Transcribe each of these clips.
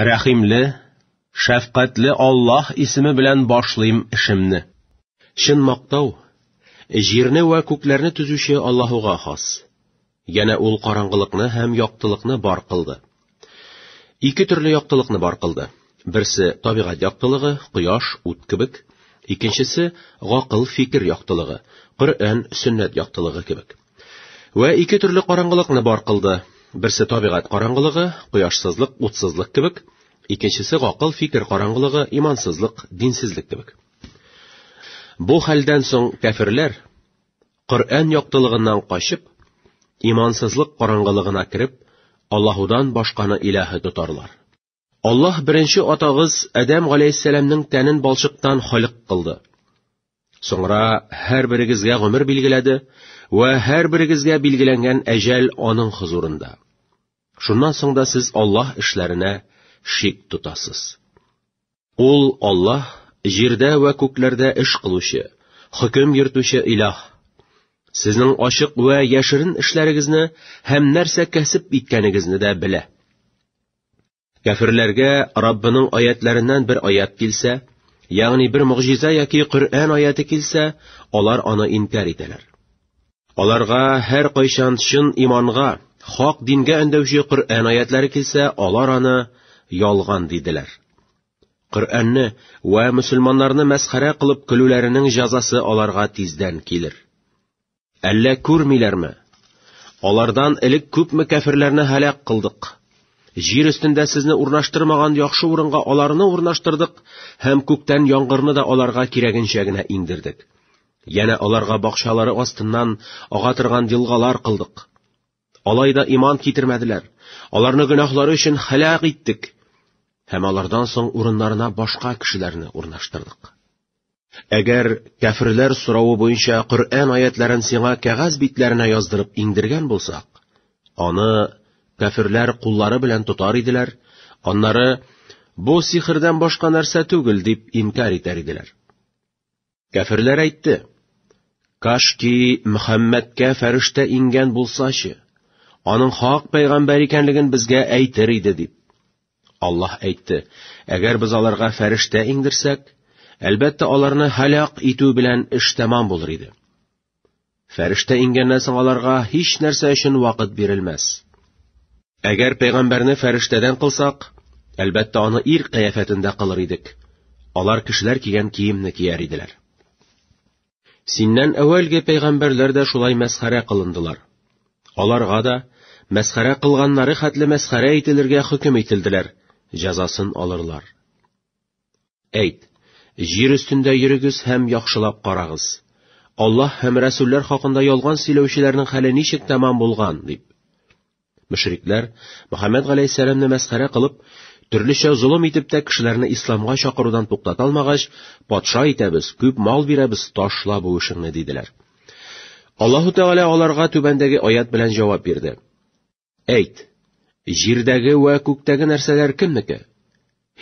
Рәхимле, шәфкатьле Аллаһ исеме белән башлыйм эшемне. Чын мактау җирне вә күкләрне төзүче Аллаһуга хас. Янә ул караңгылыкны һәм яктылыкны бар кылды. Ике төрле яктылыкны бар кылды. Берсе табигать яктылыгы, кояш, ут кебек, икенчесе гакыл, фикер яктылыгы, Коръән, сөннәт яктылыгы кебек. Вә ике төрле караңгылыкны бар кылды. Берсе табигать караңгылыгы, кояшсызлык, утсызлык кебек, икенчесе гакыл, фикер караңгылыгы, имансызлык, динсезлек кебек. Бу хәлдән соң кәферләр Коръән яктылыгыннан качып, имансызлык караңгылыгына кереп, Аллаһудан башканы илаһы тотарлар. Аллаһ беренче атагыз Адәм галәйһиссәламның тәнен балчыктан халык кылды. Соңра һәр берегезгә гомер билгеләде вә һәр берегезгә билгеләнгән әҗәл аның хозурында. Шуннан соң да сез Аллаһ эшләренә шик тотасыз. Ул Аллаһ җирдә вә күкләрдә эш кылучы, хөкем йөртүче илаһ. Сезнең ачык вә яшерен эшләрегезне һәм нәрсә кәсеп иткәнегезне дә белә. Кәферләргә Раббының аятларыннан бер аят килсә, ягъни бер мөгъҗиза яки Коръән аяты килсә, алар аны инкар итәләр. Аларга һәр кайчан чын иманга, хак дингә өндәүче Коръән аятлары килсә, алар аны ялган диделәр. Коръәнне ва мусульманнарны мәсхәрә кылып көлүләренең җәзасы аларга тиздән килер. Әллә күрмиләрме? Алардан элек күпме кәферләрне һәлак кылдык. Җир өстендә сезне урнаштырмаган яхшы урынга аларны урнаштырдык һәм күктән яңгырны да аларга кирәгенчә генә иңдердек. Янә аларга бакчалары астыннан ага торган елгалар кылдык. Алай да иман китермәделәр. Аларны гөнаһлары өчен хәлак иттек. Һәм алардан соң урыннарына башка кешеләрне урнаштырдык. Әгәр кәферләр соравы буенча Коръән аятларын сиңа кәгазь битләренә яздырып иңдергән булсак, аны кәферләр куллары белән тотар иделәр, аннары бу сихрдан башка нәрсә түгел дип инкар итәр иделәр. Кәферләр әйтте, Кашки Мөхәммәдкә фәрештә ингән булсачы, аның хак пәйгамбәр икәнлеген безгә әйтер иде дип. Аллаһ әйтте, әгәр без аларга фәрештә иңдерсәк, әлбәттә аларны һәлак итү белән эш тәмам булыр иде. Фәрештә иңгәннән соң аларга һич нәрсә өчен вакыт бирелмәс. Әгәр пәйгамбәрне фәрештәдән кылсак, әлбәттә аны ир кыяфәтендә кылыр идек. Алар кешеләр кигән киемне кияр иделәр. Синнән әүвәлге пәйгамбәрләр дә шулай мәсхәрә кылындылар. Аларга да мәсхәрә кылганнары хәтле мәсхәрә ителергә хөкем ителделәр, җәзасын алырлар. Әйт, җир өстендә йөрегез һәм яхшылап карагыз. Аллаһ һәм рәсүлләр хакында ялган сөйләүчеләрнең хәле ничек тәмам булган, дип. Мөшрикләр, Мөхәммәд галәйһиссәламне мәсхәрә кылып, төрлечә золым итеп тә кешеләрне исламга чакырудан туктата алмагач, патша итәбез, күп мал бирәбез, ташла бу эшеңне, диделәр. Аллаһу Тәгалә аларга түбәндәге аят белән җавап бирде. Әйт, җирдәге вә күктәге нәрсәләр кемнеке?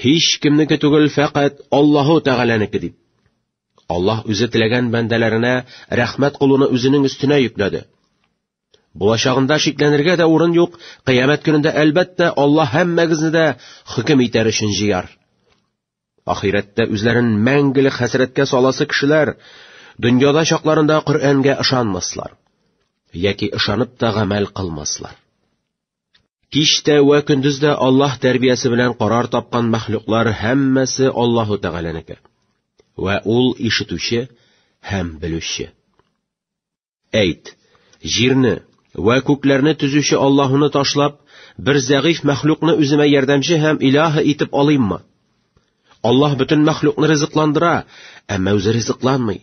Һич кемнеке түгел, фәкать Аллаһу Тәгаләнеке дип. Аллаһ үзе теләгән бәндәләренә рәхмәт кулуны үзенең өстенә йөкләде. Булачагында шикләнергә дә урын юк, кыямәт көнендә әлбәттә Аллаһ һәммәгезне дә хөкем итәр өчен җыяр. Ахирәттә үзләрен мәңгелек хәсрәткә саласы кешеләр дөньяда чакларында Коръәнгә ышанмаслар яки ышанып та гамәл кылмаслар. Киштә вә көндез дә Аллаһ тәрбиясе белән карар тапкан мәхлуклар һәммәсе Аллаһу Тәгаләнеке. Вә ул ишетүче һәм белүче. Әйт, җирне вә күкләрне төзүче Аллаһуны ташлап, бер зәгыйф мәхлукны үземә ярдәмче һәм илаһы итеп алыйммы? Аллаһ бөтен мәхлукны ризыкландыра, әмма үзе ризыкланмый.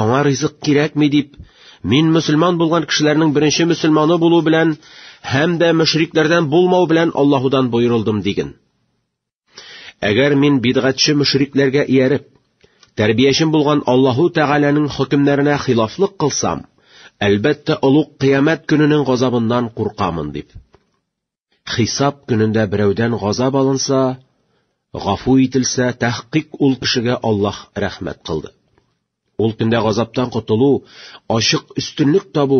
Аңа ризык кирәкми дип, мин мөселман булган кешеләрнең беренче мөселманы булу белән һәм дә мөшрикләрдән булмау белән Аллаһудан боерылдым диген. Әгәр мин бидгатьче мөшрикләргә ияреп, тәрбиячем булган Аллаһу Тәгаләнең хөкемнәренә хилафлык кылсам, әлбәттә, олуг кыямәт көненең газабыннан куркамын дип. Хисап көнендә берәүдән газап алынса, гафу ителсә, тәхкыйк ул кешегә Аллаһ рәхмәт кылды. Ул көндә газаптан котылу, ачык өстенлек табу,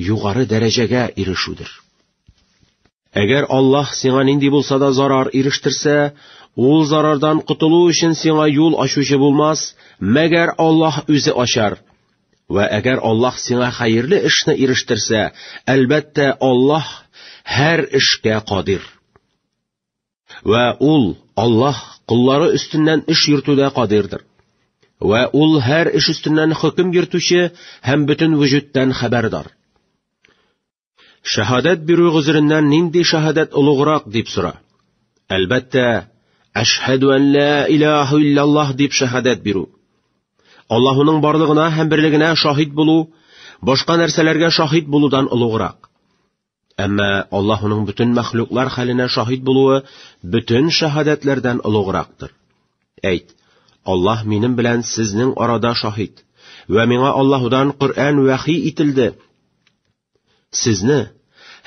югары дәрәҗәгә ирешүдер. Әгәр Аллаһ сиңа нинди булса да зарар ирештерсә, ул зарардан котылу өчен сиңа юл ачучы булмас, мәгәр Аллаһ үзе ачар. Вә әгәр Аллаһ сиңа хәерле эшне ирештерсә, әлбәттә, Аллаһ һәр эшкә кадир. Вә ул, Аллаһ, куллары өстеннән эш йөртүдә кадирдер. Вә ул һәр эш өстеннән хөкем йөртүче һәм бөтен вөҗүдтән хәбәрдар. Шәһадәт бирү гозереннән нинди шәһадәт олуграк дип сора. Әлбәттә, әшһәду ан ла илаһа иллаллаһ дип шәһадәт бирү. Аллаһуның барлыгына һәм берлегенә шаһит булу, башка нәрсәләргә шаһит булудан олуграк. Әмма Аллаһ уның бөтен мәхлуклар хәленә шаһит булуы бөтен шаһадәтләрдән олуграктыр. Әйт, Аллаһ минем белән сезнең арада шаһит, вә миңа Аллаһудан Коръән вәхи ителде. Сезне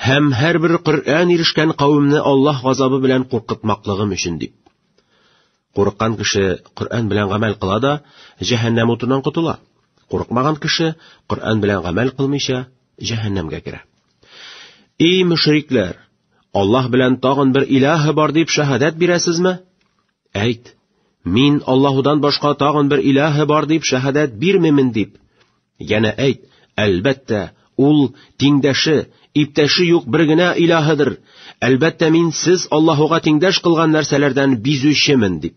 һәм һәрбер Коръән ирешкән кавемне Аллаһ газабы белән куркытмаклыгым өчен дип. Курыккан кеше Коръән белән гамәл кыла да, җәһәннәм утыннан котыла. Курыкмаган кеше Коръән белән гамәл кылмыйча, җәһәннәмгә керә. И мөшрикләр, Аллаһ белән тагын бер илаһы бар дип шаһадәт бирәсезме? Әйт, мин Аллаһудан башка тагын бер илаһы бар дип шаһадәт бирмимен дип. Янә әйт, әлбәттә, ул тиңдәше, иптәше юк бер генә илаһыдыр. Әлбәттә, мин сез Аллаһуга тиңдәш кылган нәрсәләрдән бизүчемен дип.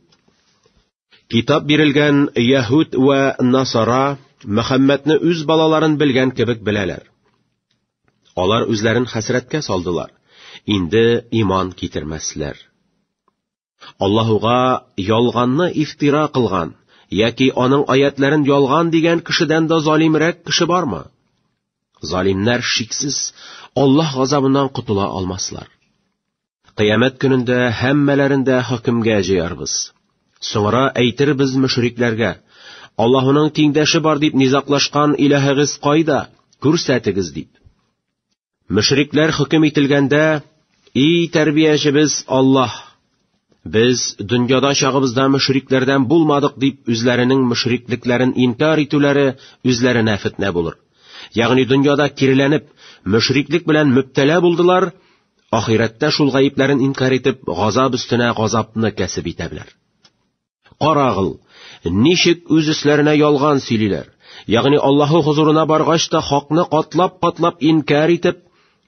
Китап бирелгән Яһуд вә Насара Мөхәммәдне үз балаларын белгән кебек беләләр. Алар үзләрен хәсрәткә салдылар. Инде иман китермәсләр. Аллаһуга ялганны ифтира кылган яки аның аятләрен ялган дигән кешедән дә залимрәк кеше бармы? Залимнәр шиксез Аллаһ газабыннан котыла алмаслар. Кыямәт көнендә һәммәләрен дә хөкемгә җыярбыз. Соңра әйтербез мөшрикләргә: Аллаһуның тиңдәше бар дип низаклашкан илаһыгыз кайда? Күрсәтегез дип. Мөшрикләр хөкем ителгәндә, «И тәрбиячебез Аллаһ! Без дөньяда чагыбызда мөшрикләрдән булмадык» дип үзләренең мөшриклекләрен инкар итүләре үзләренә фетнә булыр. Ягъни дөньяда киреләнеп, мөшриклек белән мөптәлә булдылар, ахирәттә шул гаепләрен инкар итеп, газап өстенә газапны кәсеп итәбләр. Карагыл, ничек үз өсләренә ялган сөйлиләр. Ягъни Аллаһы хозурына баргач та хакны катлап-катлап инкар итеп,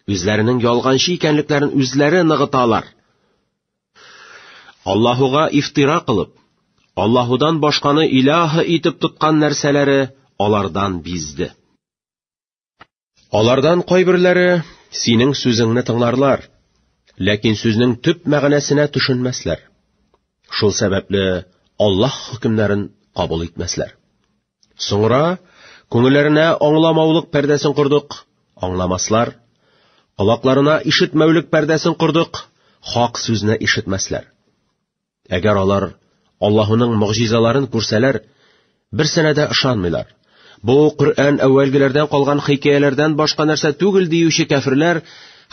үзләренең ялганчы икәнлекләрен үзләре ныгыталар. Аллаһуга ифтира кылып, Аллаһудан башканы иляһы итеп тоткан нәрсәләре алардан бизде. Алардан кайберләре синең сүзеңне тыңларлар, ләкин сүзнең төп мәгънәсенә төшенмәсләр. Шул сәбәпле Аллаһ хөкемнәрен кабул итмәсләр. Соңра күңелләренә аңламаулык пәрдәсен кордык, аңламаслар. Колакларына ишетмәүлек пәрдәсен кордык, хак сүзне ишетмәсләр. Әгәр алар Аллаһуның мөгъҗизаларын күрсәләр, бер сәнәдә ышанмыйлар. Бу Коръән әүвәлгеләрдән калган хикәяләрдән башка нәрсә түгел диюче кәферләр,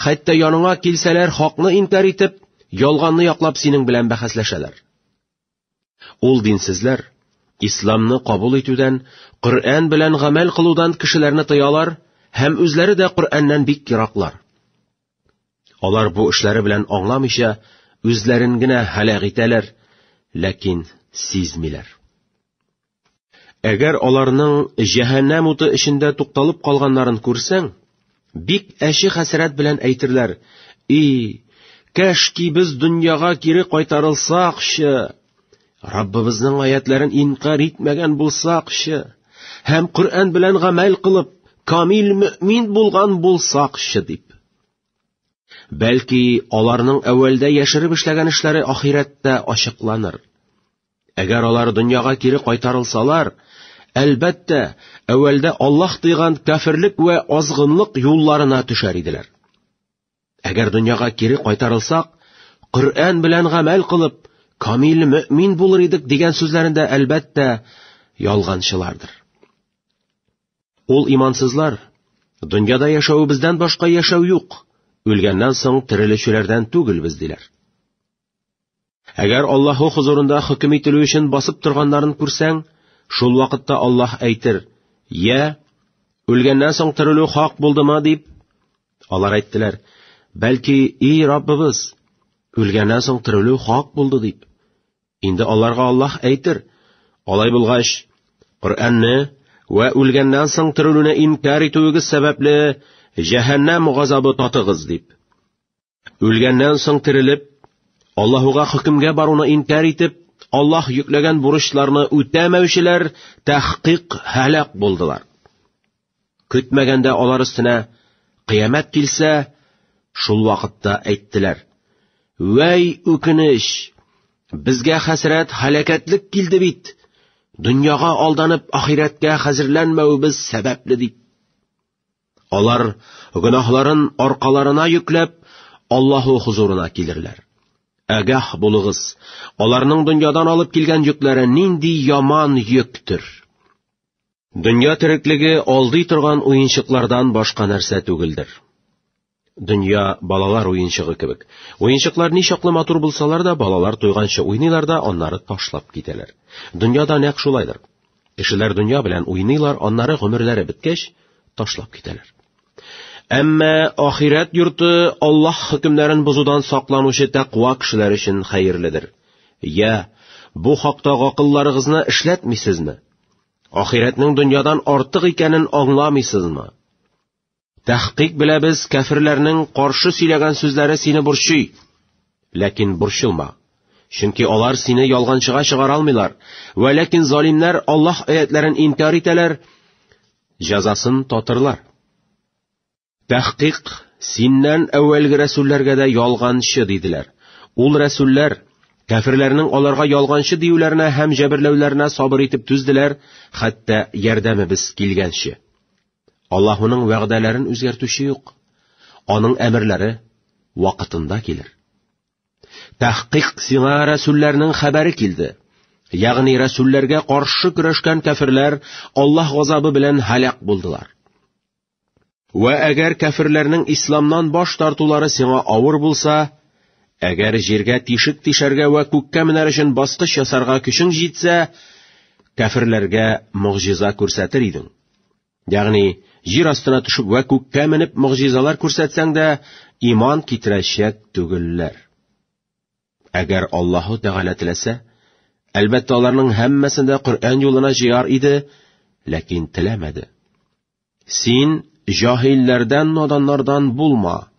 хәтта яныңа килсәләр, хакны инкар итеп, ялганны яклап синең белән бәхәсләшәләр. Ул динсезләр исламны кабул итүдән, Коръән белән гамәл кылудан кешеләрне тыялар һәм үзләре дә Коръәннән бик ераклар. Алар бу эшләре белән аңламыйча, үзләрен генә һәлак итәләр, ләкин сизмиләр. Әгәр аларның җәһәннәм уты эчендә тукталып калганнарын күрсәң, бик әче хәсрәт белән әйтерләр: "И, кәшки без дөньяга кире кайтарылсакчы, Раббыбызның аятләрен инкар итмәгән булсакчы һәм Коръән белән гамәл кылып, камил мөмин булган булсакчы дип. Бәлки, аларның әүвәлдә яшереп эшләгән эшләре ахирәттә ачыкланыр. Әгәр алар дөньяга кире кайтарылсалар, әлбәттә, әүвәлдә Аллаһ тыйган кафирлек вә азгынлык юлларына төшәр иделәр. Әгәр дөньяга кире кайтарылсак, Коръән белән гамәл кылып, камил мөмин булыр идек дигән сүзләрендә әлбәттә ялганчылардыр. Ул имансызлар, дөньяда яшәвебездән башка яшәү юк, үлгәннән соң терелүчеләрдән түгелбез диләр. Әгәр Аллаһу хозурында хөкем ителү өчен басып торганнарын күрсәң, шул вакытта Аллаһ әйтер, «Йә, үлгәннән соң терелү хак булдымы?» дип. Алар әйттеләр, «Бәлки, и Раббыбыз, үлгәннән соң терелү хак булды» дип. Инде аларга Аллаһ әйтер, «Алай булгач, Коръәнне вә үлгәннән соң терелүне инкар итүегез сәбәпле, җәһәннәм газабы татыгыз» дип. Үлгәннән соң терелеп, Аллаһуга хөкемгә баруны инкар итеп, Аллаһ йөкләгән бурычларны үтәмәүчеләр тәхкыйк һәлак булдылар. Көтмәгәндә алар өстенә кыямәт килсә, шул вакытта әйттеләр: "Вәй үкенеч! Безгә хәсрәт, һәлакәтлек килде бит. Дөньяга алданып, ахирәткә хәзерләнмәвебез сәбәпле" дип. Алар гөнаһларын аркаларына йөкләп, Аллаһу хузурына килерләр. Әгәх булыгыз, аларның дөньядан алып килгән йөкләре нинди яман йөктер. Дөнья тереклеге алдый торган уенчыклардан башка нәрсә түгелдер. Дөнья балалар уенчыгы кебек. Уенчыклар ни чаклы матур булсалар да, балалар туйганчы уйныйлар да, аннары ташлап китәләр. Дөньяда нәкъ шулайдыр. Кешеләр дөнья белән уйныйлар, аннары гомерләре беткәч, ташлап китәләр. Әмма ахирәт йорты Аллаһ хөкемнәрен бозудан сакланучы тәкъва кешеләр өчен хәерледер. Я, бу хакта гакылларыгызны эшләтмисезме? Ахирәтнең дөньядан артык икәнен аңламыйсызмы? Тәхкыйк белә без кәферләрнең каршы сөйләгән сүзләре сине борчый. Ләкин борчылма. Чөнки алар сине ялганчыга чыгара алмыйлар. Вә ләкин залимнәр Аллаһ аятларын инкар итәләр, җәзасын татырлар. Тәхкыйк синнән әүвәлге рәсүлләргә дә ялганчы диделәр. Ул рәсүлләр Кәферләрнең аларга ялганчы диюләренә һәм җәберләүләренә сабыр итеп түзделәр, хәтта ярдәмебез килгәнче. Аллаһуның вәгъдәләрен үзгәртүче юк. Аның әмерләре вакытында килер. Тәхкыйк сиңа рәсүлләрнең хәбәре килде. Ягъни рәсүлләргә каршы көрәшкән кәферләр Аллаһ газабы белән һәлак булдылар. Вә әгәр кәферләрнең исламнан баш тартулары сиңа авыр булса, әгәр җиргә тишек тишәргә вә күккә менәр өчен баскыч ясарга көчең җитсә, кәферләргә могҗиза күрсәтер идең. Ягъни, җир астына төшеп вә күккә менеп могҗизалар күрсәтсәң дә, иман китерәчәк түгелләр. Әгәр Аллаһу Тәгалә теләсә, әлбәттә аларның һәммәсен дә Коръән юлына җыяр иде, ләкин теләмәде. Син җаһилләрдән, наданнардан булма.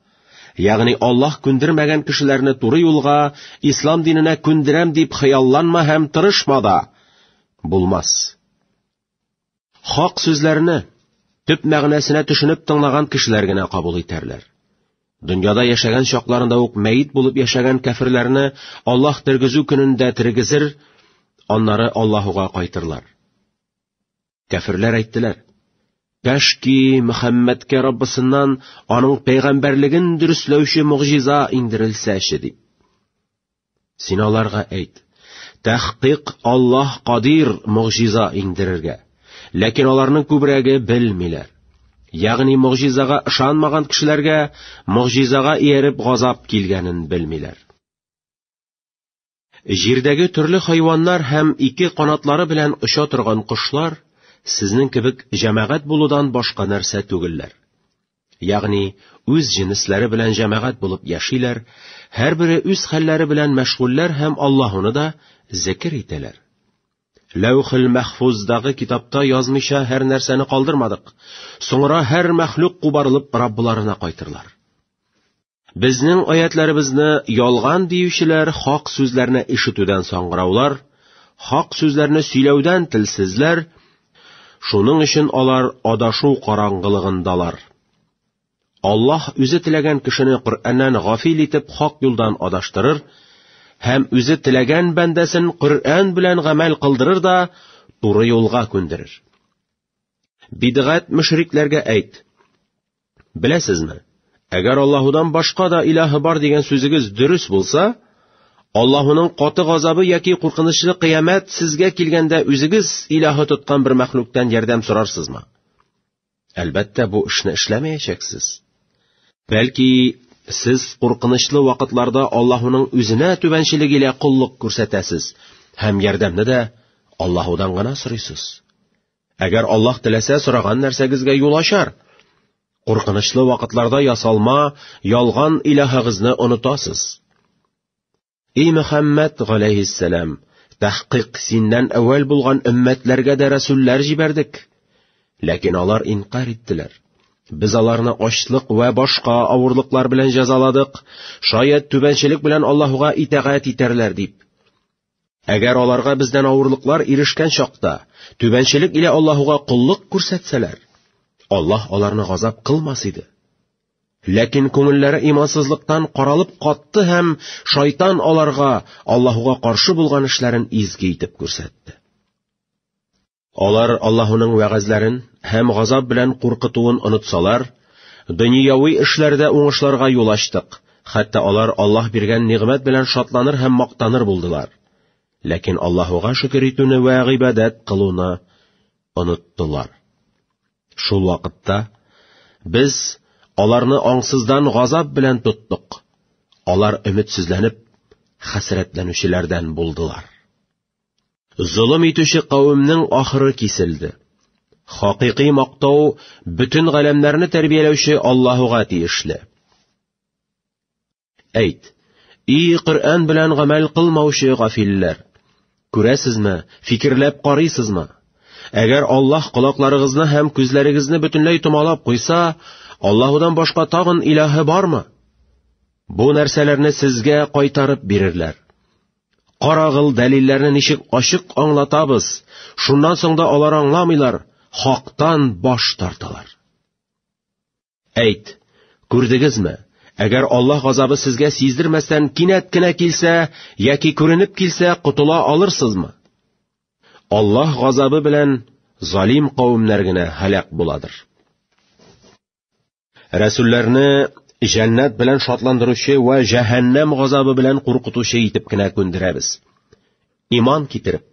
Ягъни Аллаһ күндермәгән кешеләрне туры юлга, ислам диненә күндерәм дип хыялланма һәм тырышма да. Булмас. Хак сүзләрне төп мәгънәсенә төшенеп тыңлаган кешеләр генә кабул итәрләр. Дөньяда яшәгән чакларында ук мәйт булып яшәгән кәфирләрне Аллаһ тергезү көнендә тергезер, аннары Аллаһуга кайтырлар. Кәфирләр әйттеләр: Кәшки Мөхәммәдкә Раббысыннан аның пәйгамбәрлеген дөресләүче мөгъҗиза иңдерелсәче дип. Син аларга әйт, тәхкыйк Аллаһ кадир могҗиза иңдерергә. Ләкин аларның күбрәге белмиләр. Ягъни могҗизага ышанмаган кешеләргә могҗизага ияреп газап килгәнен белмиләр. Җирдәге төрле хайваннар һәм ике канатлары белән оча торган кошлар сезнең кебек җәмәгать булудан башка нәрсә түгелләр. Ягъни, үз җенесләре белән җәмәгать булып яшиләр, һәрбере үз хәлләре белән мәшгульләр һәм Аллаһуны да зикер итәләр. Ләүхил мәхфуздагы китапта язмыйча һәр нәрсәне калдырмадык. Соңра һәр мәхлук кубарылып Раббыларына кайтырлар. Безнең аятьләребезне ялган диючеләр хак сүзләрне ишетүдән саңгыраулар, хак сүзләрне сөйләүдән телсезләр, шуның өчен алар адашу караңгылыгындалар. Аллаһ үзе теләгән кешене Коръәннән гафил итеп хак юлдан адаштырыр, һәм үзе теләгән бәндәсен Коръән белән гамәл кылдырыр да, туры юлга күндерер. Бидгат мөшрикләргә әйт: Беләсезме, әгәр Аллаһудан башка да илаһы бар дигән сүзегез дөрес булса, Аллаһуның каты газабы яки куркынычлы кыямәт сезгә килгәндә үзегез илаһы тоткан бер мәхлуктан ярдәм сорарсызмы? Әлбәттә, бу эшне эшләмәячәксез. Бәлки, сез куркынычлы вакытларда Аллаһуның үзенә түбәнчелек илә коллык күрсәтәсез һәм ярдәмне дә Аллаһудан гына сорыйсыз. Әгәр Аллаһ теләсә, сораган нәрсәгезгә юл ачар. Куркынычлы вакытларда ясалма, ялган илаһыгызны онытасыз. И Мөхәммәд галәйһиссәлам, тәхкыйк синнән әүвәл булган өммәтләргә дә рәсүлләр җибәрдек. Ләкин алар инкар иттеләр. Без аларны ачлык вә башка авырлыклар белән җәзаладык, шаят түбәнчелек белән Аллаһуга итәгать итәрләр дип. Әгәр аларга бездән авырлыклар ирешкән чакта, түбәнчелек илә Аллаһуга коллык күрсәтсәләр, Аллаһ аларны газап кылмас иде. Ләкин күңелләре имансызлыктан каралып катты һәм шайтан аларга Аллаһуга каршы булган эшләрен изге итеп күрсәтте. Алар Аллаһының вәгазьләрен һәм газап белән куркытуын онытсалар, дөньяви эшләрдә уңышларга юл ачтык, хәтта алар Аллаһ биргән нигъмәт белән шатланыр һәм мактаныр булдылар. Ләкин Аллаһуга шөкер итүне вә гыйбадәт кылуны оныттылар. Шул вакытта без аларны аңсыздан газап белән тоттык. Алар өметсезләнеп, хәсрәтләнүчеләрдән булдылар. Золым итүче кавемнең ахыры киселде. Хакыйкый мактау бөтен галәмнәрне тәрбияләүче Аллаһуга тиешле. Әйт, и Коръән белән гамәл кылмаучы гафилләр, күрәсезме, фикерләп карыйсызмы? Әгәр Аллаһ колакларыгызны һәм күзләрегезне бөтенләй томалап куйса, Аллаһудан башка тагын илаһы бармы? Бу нәрсәләрне сезгә кайтарып бирерләр. Карагыл, дәлилләрне ничек ачык аңлатабыз. Шуннан соң да алар аңламыйлар, хактан баш тарталар. Әйт, күрдегезме? Әгәр Аллаһ газабы сезгә сиздермәстән кинәт кенә килсә, яки күренеп килсә, котыла алырсызмы? Аллаһ газабы белән залим кавемнәр генә һәлак буладыр. Рәсүлләрне җәннәт белән шатландыручы вә җәһәннәм газабы белән куркытучы итеп кенә күндерәбез. Иман китереп,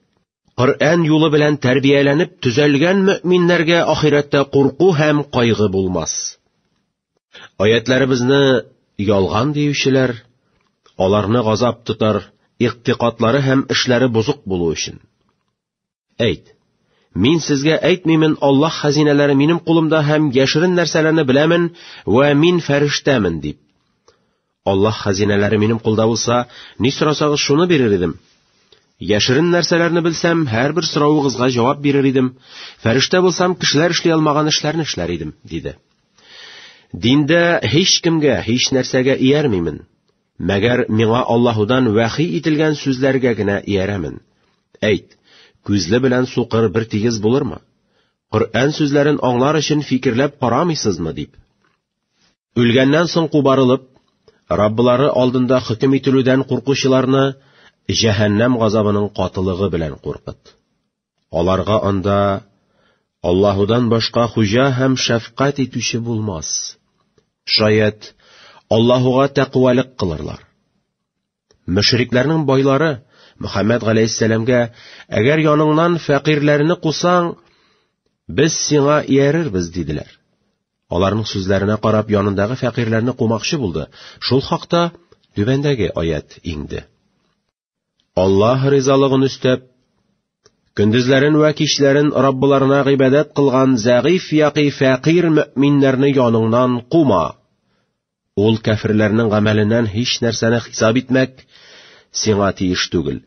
Коръән юлы белән тәрбияләнеп төзәлгән мөминнәргә ахирәттә курку һәм кайгы булмас. Аятларыбызны ялган диючеләр, аларны газап тотар, игътикадлары һәм эшләре бозык булу өчен. Әйт, Мин сезгә әйтмимен, Аллаһ хәзинәләре минем кулымда һәм яшерен нәрсәләрне беләмен вә мин фәрештәмен, дип. Аллаһ хәзинәләре минем кулда булса, ни сорасагыз шуны бирер идем. Яшерен нәрсәләрне белсәм, һәрбер соравыгызга җавап бирер идем. Фәрештә булсам, кешеләр эшли алмаган эшләрне эшләр идем, диде. Диндә һич кемгә, һич нәрсәгә иярмимен. Мәгәр миңа Аллаһудан вәхи ителгән сүзләргә генә иярәмен. Әйт, күзле белән сукыр бер тигез булырмы? Коръән сүзләрен аңлар өчен фикерләп карамыйсызмы дип. Үлгәннән соң кубарылып, Раббылары алдында хөкем ителүдән куркучыларны җәһәннәм газабының катылыгы белән куркыт. Аларга анда Аллаһудан башка хуҗа һәм шәфкать итүче булмас. Шаят, Аллаһуга тәкъвалык кылырлар. Мөшрикләрнең байлары Мөхәммәд галәйһиссәламгә, әгәр яныңнан фәкыйрьләрне кусаң, без сиңа иярербез, диделәр. Аларның сүзләренә карап янындагы фәкыйрьләрне кумакчы булды. Шул хакта түбәндәге аят иңде. Аллаһ ризалыгын өстәп, көндезләрен вә кичләрен Раббыларына гыйбадәт кылган зәгыйф яки фәкыйр мөминнәрне яныңнан кума. Ул кәфирләрнең гамәленнән һич нәрсәне хисап итмәк сиңа тиеш түгел,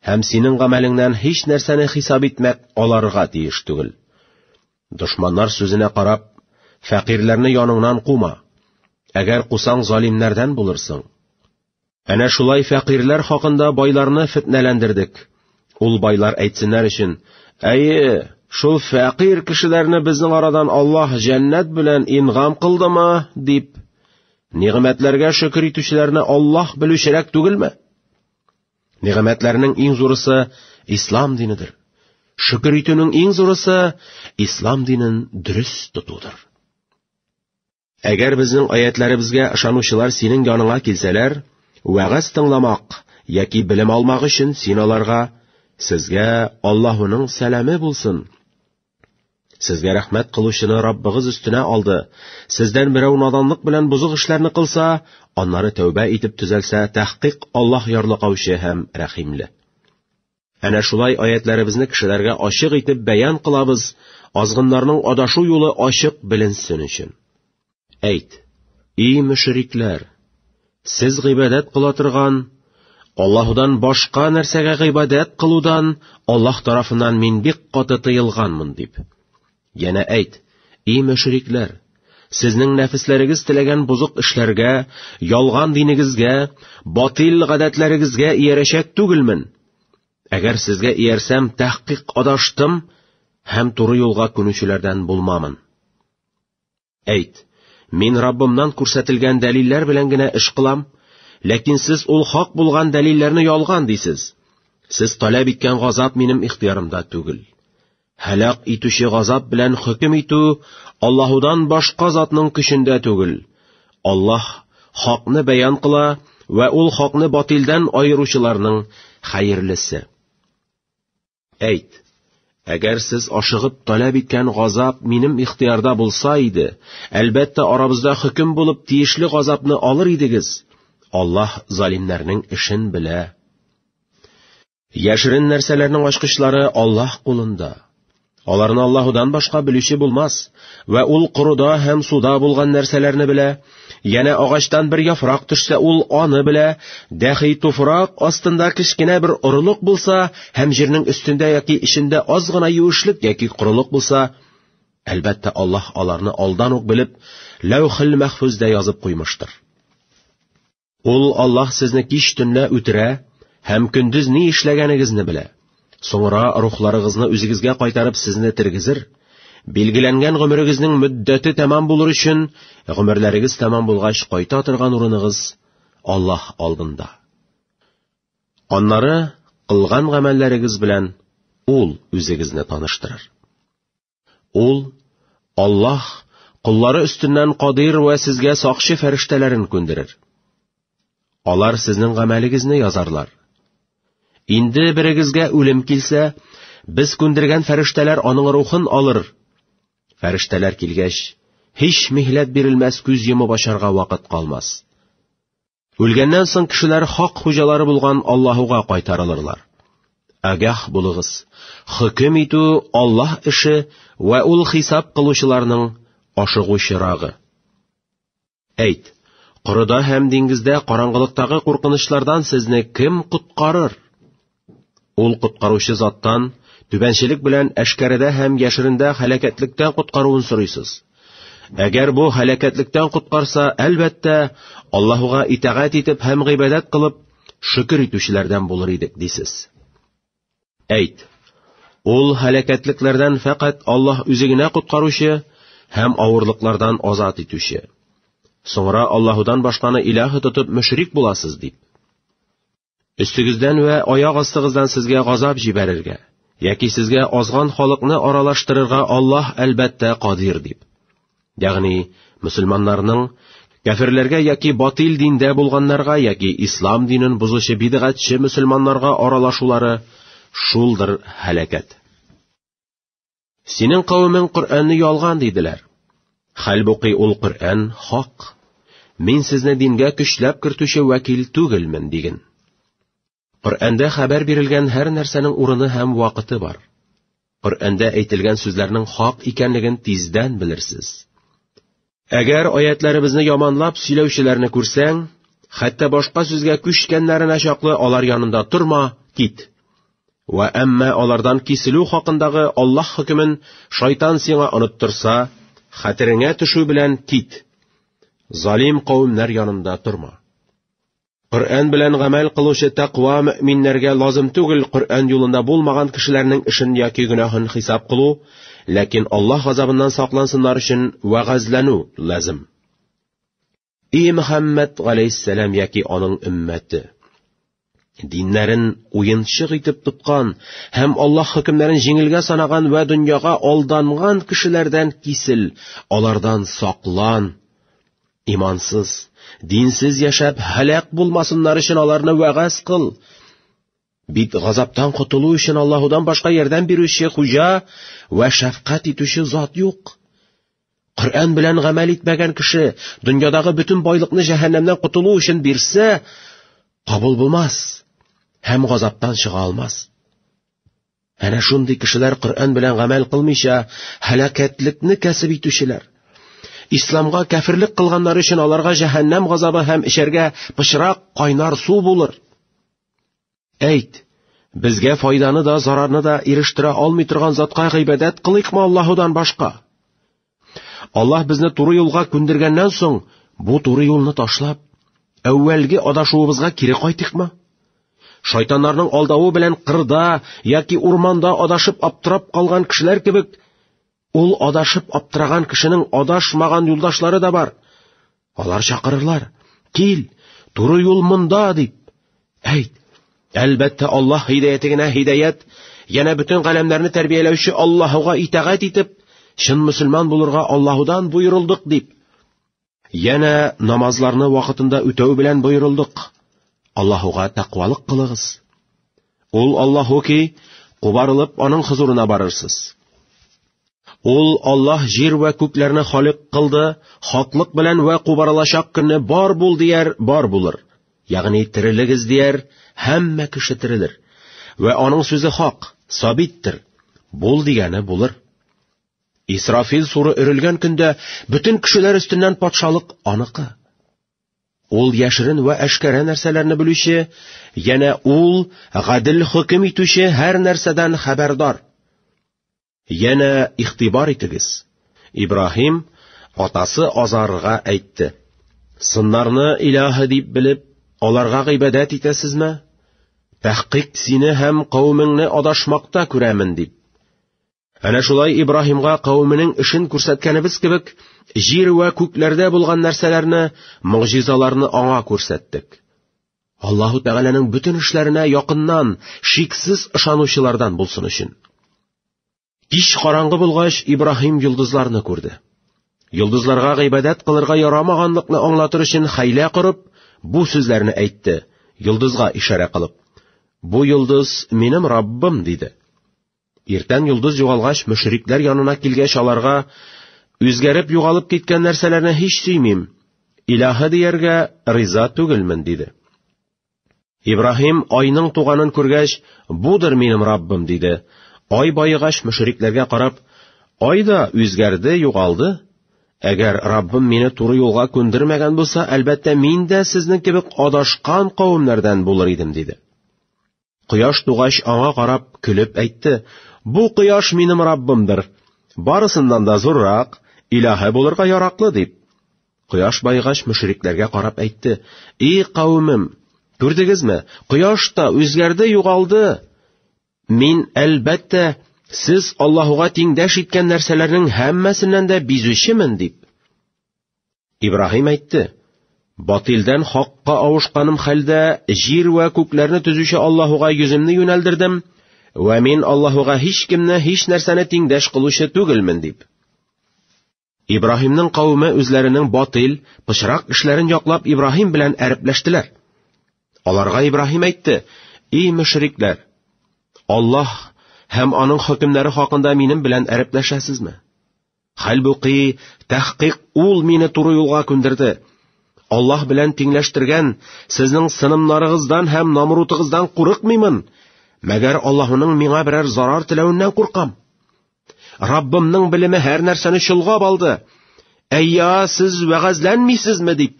һәм синең гамәлеңнән һич нәрсәне хисап итмәк аларга тиеш түгел. Дошманнар сүзенә карап, фәкыйрләрне яныңнан кума. Әгәр кусаң, залимнәрдән булырсың. Әнә шулай фәкыйрьләр хакында байларны фетнәләндердек. Ул байлар әйтсеннәр өчен, әйе, шул фәкыйрь кешеләрне безнең арадан Аллаһ җәннәт белән ингам кылдымы, дип, нигъмәтләргә шөкер итүчеләрне Аллаһ белүчерәк түгелме? Нигъмәтләрнең иң зурысы ислам динедер. Шөкер итүнең иң зурысы ислам динен дөрес тотудыр. Әгәр безнең аятләребезгә ышанучылар синең яныңа килсәләр, вәгазь тыңламак яки белем алмак өчен син аларга, сезгә Аллаһуның сәламе булсын. Сезгә рәхмәт кылучыны Раббыгыз өстенә алды. Сездән берәү наданлык белән бозык эшләрне кылса, аннары тәүбә итеп төзәлсә, тәхкыйк Аллаһ ярлыкаучы һәм рәхимле. Әнә шулай аятьләребезне кешеләргә ачык итеп бәян кылабыз, азгыннарның адашу юлы ачык беленсен өчен. Әйт, и мөшрикләр, сез гыйбадәт кыла торган Аллаһудан башка нәрсәгә гыйбадәт кылудан Аллаһ тарафыннан мин бик каты тыелганмын дип. Яна әйт, и мөшрикләр, сезнең нәфесләрегез теләгән бозык эшләргә, ялган динегезгә, батил гадәтләрегезгә иярәчәк түгелмен? Әгәр сезгә иярсәм, тәхкыйк адаштым һәм туры юлга күнүчеләрдән булмамын. Әйт, мин Раббымнан күрсәтелгән дәлилләр белән генә эш кылам, ләкин сез ул хак булган дәлилләрне ялган дисез. Сез таләп иткән газап минем ихтиярымда түгел. Һәлак итүче газап белән хөкем итү Аллаһудан башка затның көчендә түгел. Аллаһ хакны бәян кыла вә ул хакны батилдән аеручыларның хәерлесе. Әйт, әгәр сез ашыгып таләп иткән газап минем ихтыярда булса иде, әлбәттә арабызда хөкем булып тиешле газапны алыр идегез. Аллаһ залимнәрнең эшен белә. Яшерен нәрсәләрнең ачкычлары Аллаһ кулында. Аларны Аллаһудан башка белүче булмас, вә ул корыда һәм суда булган нәрсәләрне белә, Янә агачтан бер яфрак төшсә, ул аны белә, дәхи туфрак астында кечкенә бер орылык булса һәм җирнең өстендә яки эчендә аз гына юешлек яки корылык булса, әлбәттә, Аллаһ аларны алдан ук белеп, Ләүхил мәхфүздә язып куймыштыр. Ул Аллаһ сезне кич төнлә үтерә һәм көндез ни эшләгәнегезне белә. Соңра рухларыгызны үзегезгә кайтарып сезне тергезер. Билгеләнгән гомерегезнең мөддәте тәмам булыр өчен, гомерләрегез тәмам булгач кайта торган урыныгыз Аллаһ алдында. Аннары кылган гамәлләрегез белән ул үзегезне таныштырыр. Ул, Аллаһ, коллары өстеннән кадир вә сезгә сакчы фәрештәләрен күндерер. Алар сезнең гамәлегезне язарлар. Инде берегезгә үлем килсә, без күндергән фәрештәләр аның рухын алыр. Фәрештәләр килгәч, һич михләт бирелмәс күз йомып ачарга вакыт калмас. Үлгәннән соң кешеләр хак хуҗалары булган Аллаһуга кайтарылырлар. Агах булыгыз. Хөкем итү Аллаһ эше вә ул хисап кылучыларның ашыгучырагы. Әйт, корыда һәм диңгездә караңгылыктагы куркынычлардан сезне кем коткарыр? Ул коткаручы заттан түбәнчелек белән әшкәрәдә һәм яшерендә халәкәтлектән коткаруын сорыйсыз. Әгәр бу халәкәтлектән коткарса, әлбәттә, Аллаһуга итагать итеп һәм гыйбадәт кылып, шөкер итүчеләрдән булыр идек, дисез. Әйт, ул халәкәтлекләрдән фәкать Аллаһ үзе генә коткаручы һәм авырлыклардан азат итүче. Соңра Аллаһудан башканы илаһы тотып мөшрик буласыз, дип. Өстегездән вә аяк астыгыздан сезгә газап җибәрергә, яки сезгә азган халыкны аралаштырырга Аллаһ әлбәттә кадир дип. Ягъни, мусульманнарның кәфирләргә яки батил диндә булганнарга яки ислам динен бозучы бидгатьче мусульманнарга аралашулары шулдыр һәлакәт. Синең кавемең Коръәнне ялган диделәр. Хәлбуки ул Коръән хак. Мин сезне дингә көчләп кертүче вәкил түгелмен диген. Коръәндә хәбәр бирелгән һәр нәрсәнең урыны һәм вакыты бар. Коръәндә әйтелгән сүзләрнең хак икәнлеген тиздән белерсез. Әгәр аятьләребезне яманлап сөйләүчеләрне күрсәң, хәтта башка сүзгә күчкәннәренә чаклы алар янында торма, кит. Вә әмма алардан киселү хакындагы Аллаһ хөкемен шайтан сиңа оныттырса, хәтереңә төшү белән кит. Залим кавемнәр янында торма. Коръән белән гамәл кылучы тәкъва мөэминнәргә лазым түгел Коръән юлында булмаган кешеләрнең эшен яки гөнаһын хисап кылу, ләкин Аллаһ газабыннан саклансыннар өчен вәгазьләнү лазым. И Мөхәммәд галәйһиссәлам яки аның өммәте! Диннәрен уенчык итеп тоткан һәм Аллаһ хөкемнәрен җиңелгә санаган вә дөньяга алданган кешеләрдән кисел, алардан саклан. Имансыз, динсез яшәп, һәлак булмасыннар өчен аларны вәгазь кыл. Бит газаптан котылу өчен Аллаһудан башка ярдәм бирүче хуҗа вә шәфкать итүче зат юк. Коръән белән гамәл итмәгән кеше дөньядагы бөтен байлыкны җәһәннәмнән котылу өчен бирсә, кабул булмас һәм газаптан чыга алмас. Әнә шундый кешеләр Коръән белән гамәл кылмыйча, һәлакәтлекне кәсеп итүчеләр. Исламга кәферлек кылганнар өчен аларга җәһәннәм газабы һәм эчәргә пычрак кайнар су булыр. Әйт, безгә файданы да, зарарны да ирештерә алмый торган затка гыйбадәт кылыйкмы Аллаһудан башка? Аллаһ безне туры юлга күндергәннән соң, бу туры юлны ташлап, әүвәлге адашуыбызга кире кайтыкмы? Шайтаннарның алдавы белән кырда яки урманда адашып аптырап калган кешеләр кебек, ул адашып аптыраган кешенең адашмаган юлдашлары да бар. Алар чакырырлар, кил, туры юл монда, дип. Әйт, әлбәттә Аллах хидәяте генә хидәят, янә бөтен галәмнәрне тәрбияләүче Аллаһуга итагать итеп, чын мөселман булырга Аллаһудан боерылдык, дип. Янә намазларны вакытында үтәү белән боерылдык. Аллаһуга тәкъвалык кылыгыз. Ул Аллаһу ки, кубарылып аның хозурына барырсыз. Ул Аллаһ җир вә күкләрне халык кылды, хаклык белән вә кубарылачак көнне бар бул дияр, бар булыр. Ягъни терелегез дияр, һәммә кеше терелер. Вә аның сүзе хак, сабиттер. Бул дигәне булыр. Исрафил суры өрелгән көндә бөтен кешеләр өстеннән патшалык аныкы. Ул яшерен вә әшкәрә нәрсәләрне белүче, янә ул гадел хөкем итүче һәр нәрсәдән хәбәрдар. Янә ихтибар итегез. Ибраһим атасы Азарга әйтте: "Сыннарны илаһы дип белеп, аларга гыйбадәт итәсезме? Тәхкыйк сине һәм каумеңне адашмакта күрәмен", дип. Әнә шулай Ибраһимга кавеменең эшен күрсәткәнебез кебек, җир вә күкләрдә булган нәрсәләрне, могҗизаларны аңа күрсәттек. Аллаһу Тәгаләнең бөтен эшләренә якыннан, шиксез ышанучылардан булсын өчен. Кич караңгы булгач, Ибраһим йолдызларны күрде. Йолдызларга гыйбадәт кылырга ярамаганлыкны аңлатыр өчен хәйлә корып, бу сүзләрне әйтте, йолдызга ишарә кылып. Бу йолдыз минем Раббым, диде. Иртән йолдыз югалгач, мөшрикләр янына килгәч аларга, үзгәреп югалып киткән нәрсәләрне һич сөймим, илаһы дияргә риза түгелмен, диде. Ибраһим айның туганын күргәч, будыр минем Раббым, диде. Ай байыгач мөшрикләргә карап, ай да үзгәрде, югалды. Әгәр Раббым мине туры юлга күндермәгән булса, әлбәттә мин дә сезнең кебек адашкан кавемнәрдән булыр идем, диде. Кояш тугач аңа карап көлеп әйтте, «Бу кояш минем Раббымдыр, барысыннан да зуррак, илаһы булырга яраклы», дип. Кояш байгач мөшрикләргә карап әйтте, «И кавемем, күрдегезме, кояш та үзгәрде, югалды. Мин, әлбәттә, сез Аллаһуга тиңдәш иткән нәрсәләрнең һәммәсеннән дә бизүчемен», дип. Ибраһим әйтте, Батилдән хакка авышканым хәлдә, җир вә күкләрне төзүче Аллаһуга йөземне юнәлдердем, вә мин Аллаһуга һич кемне, һич нәрсәне тиңдәш кылучы түгелмен, дип. Ибраһимның кавеме үзләренең батил, пычрак эшләрен яклап Ибраһим белән әрепләштеләр. Аларга Ибраһим әйтте, «И мөшрикләр, Аллаһ һәм аның хөкемнәре хакында минем белән әрепләшәсезме?» Хәлбуки, тәхкыйк ул мине туры юлга күндерде. Аллаһ белән тиңләштергән сезнең сынымнарыгыздан һәм намрутыгыздан курыкмыймын. Мәгәр Аллаһының миңа берәр зарар теләвеннән куркам. Раббымның белеме һәр нәрсәне чолгап алды. Әйя, сез вәгазьләнмисезме дип.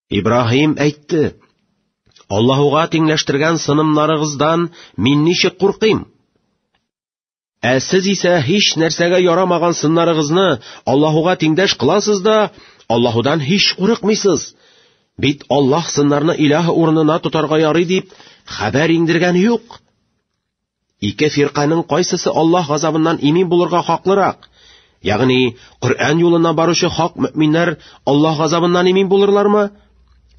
Ибраһим әйтте: Аллаһуга тиңләштергән сынымнарыгыздан мин ничек куркыйм? Ә сез исә һич нәрсәгә ярамаган сыннарыгызны Аллаһуга тиңдәш кыласыз да, Аллаһудан һич курыкмыйсыз. Бит Аллаһ сыннарны илаһ урынына тотарга ярый дип хәбәр иңдергән юк. Ике фирканың кайсысы Аллаһ газабыннан имин булырга хаклырак? Ягъни, Коръән юлына баручы хак мөминнәр Аллаһ газабыннан имин булырлармы?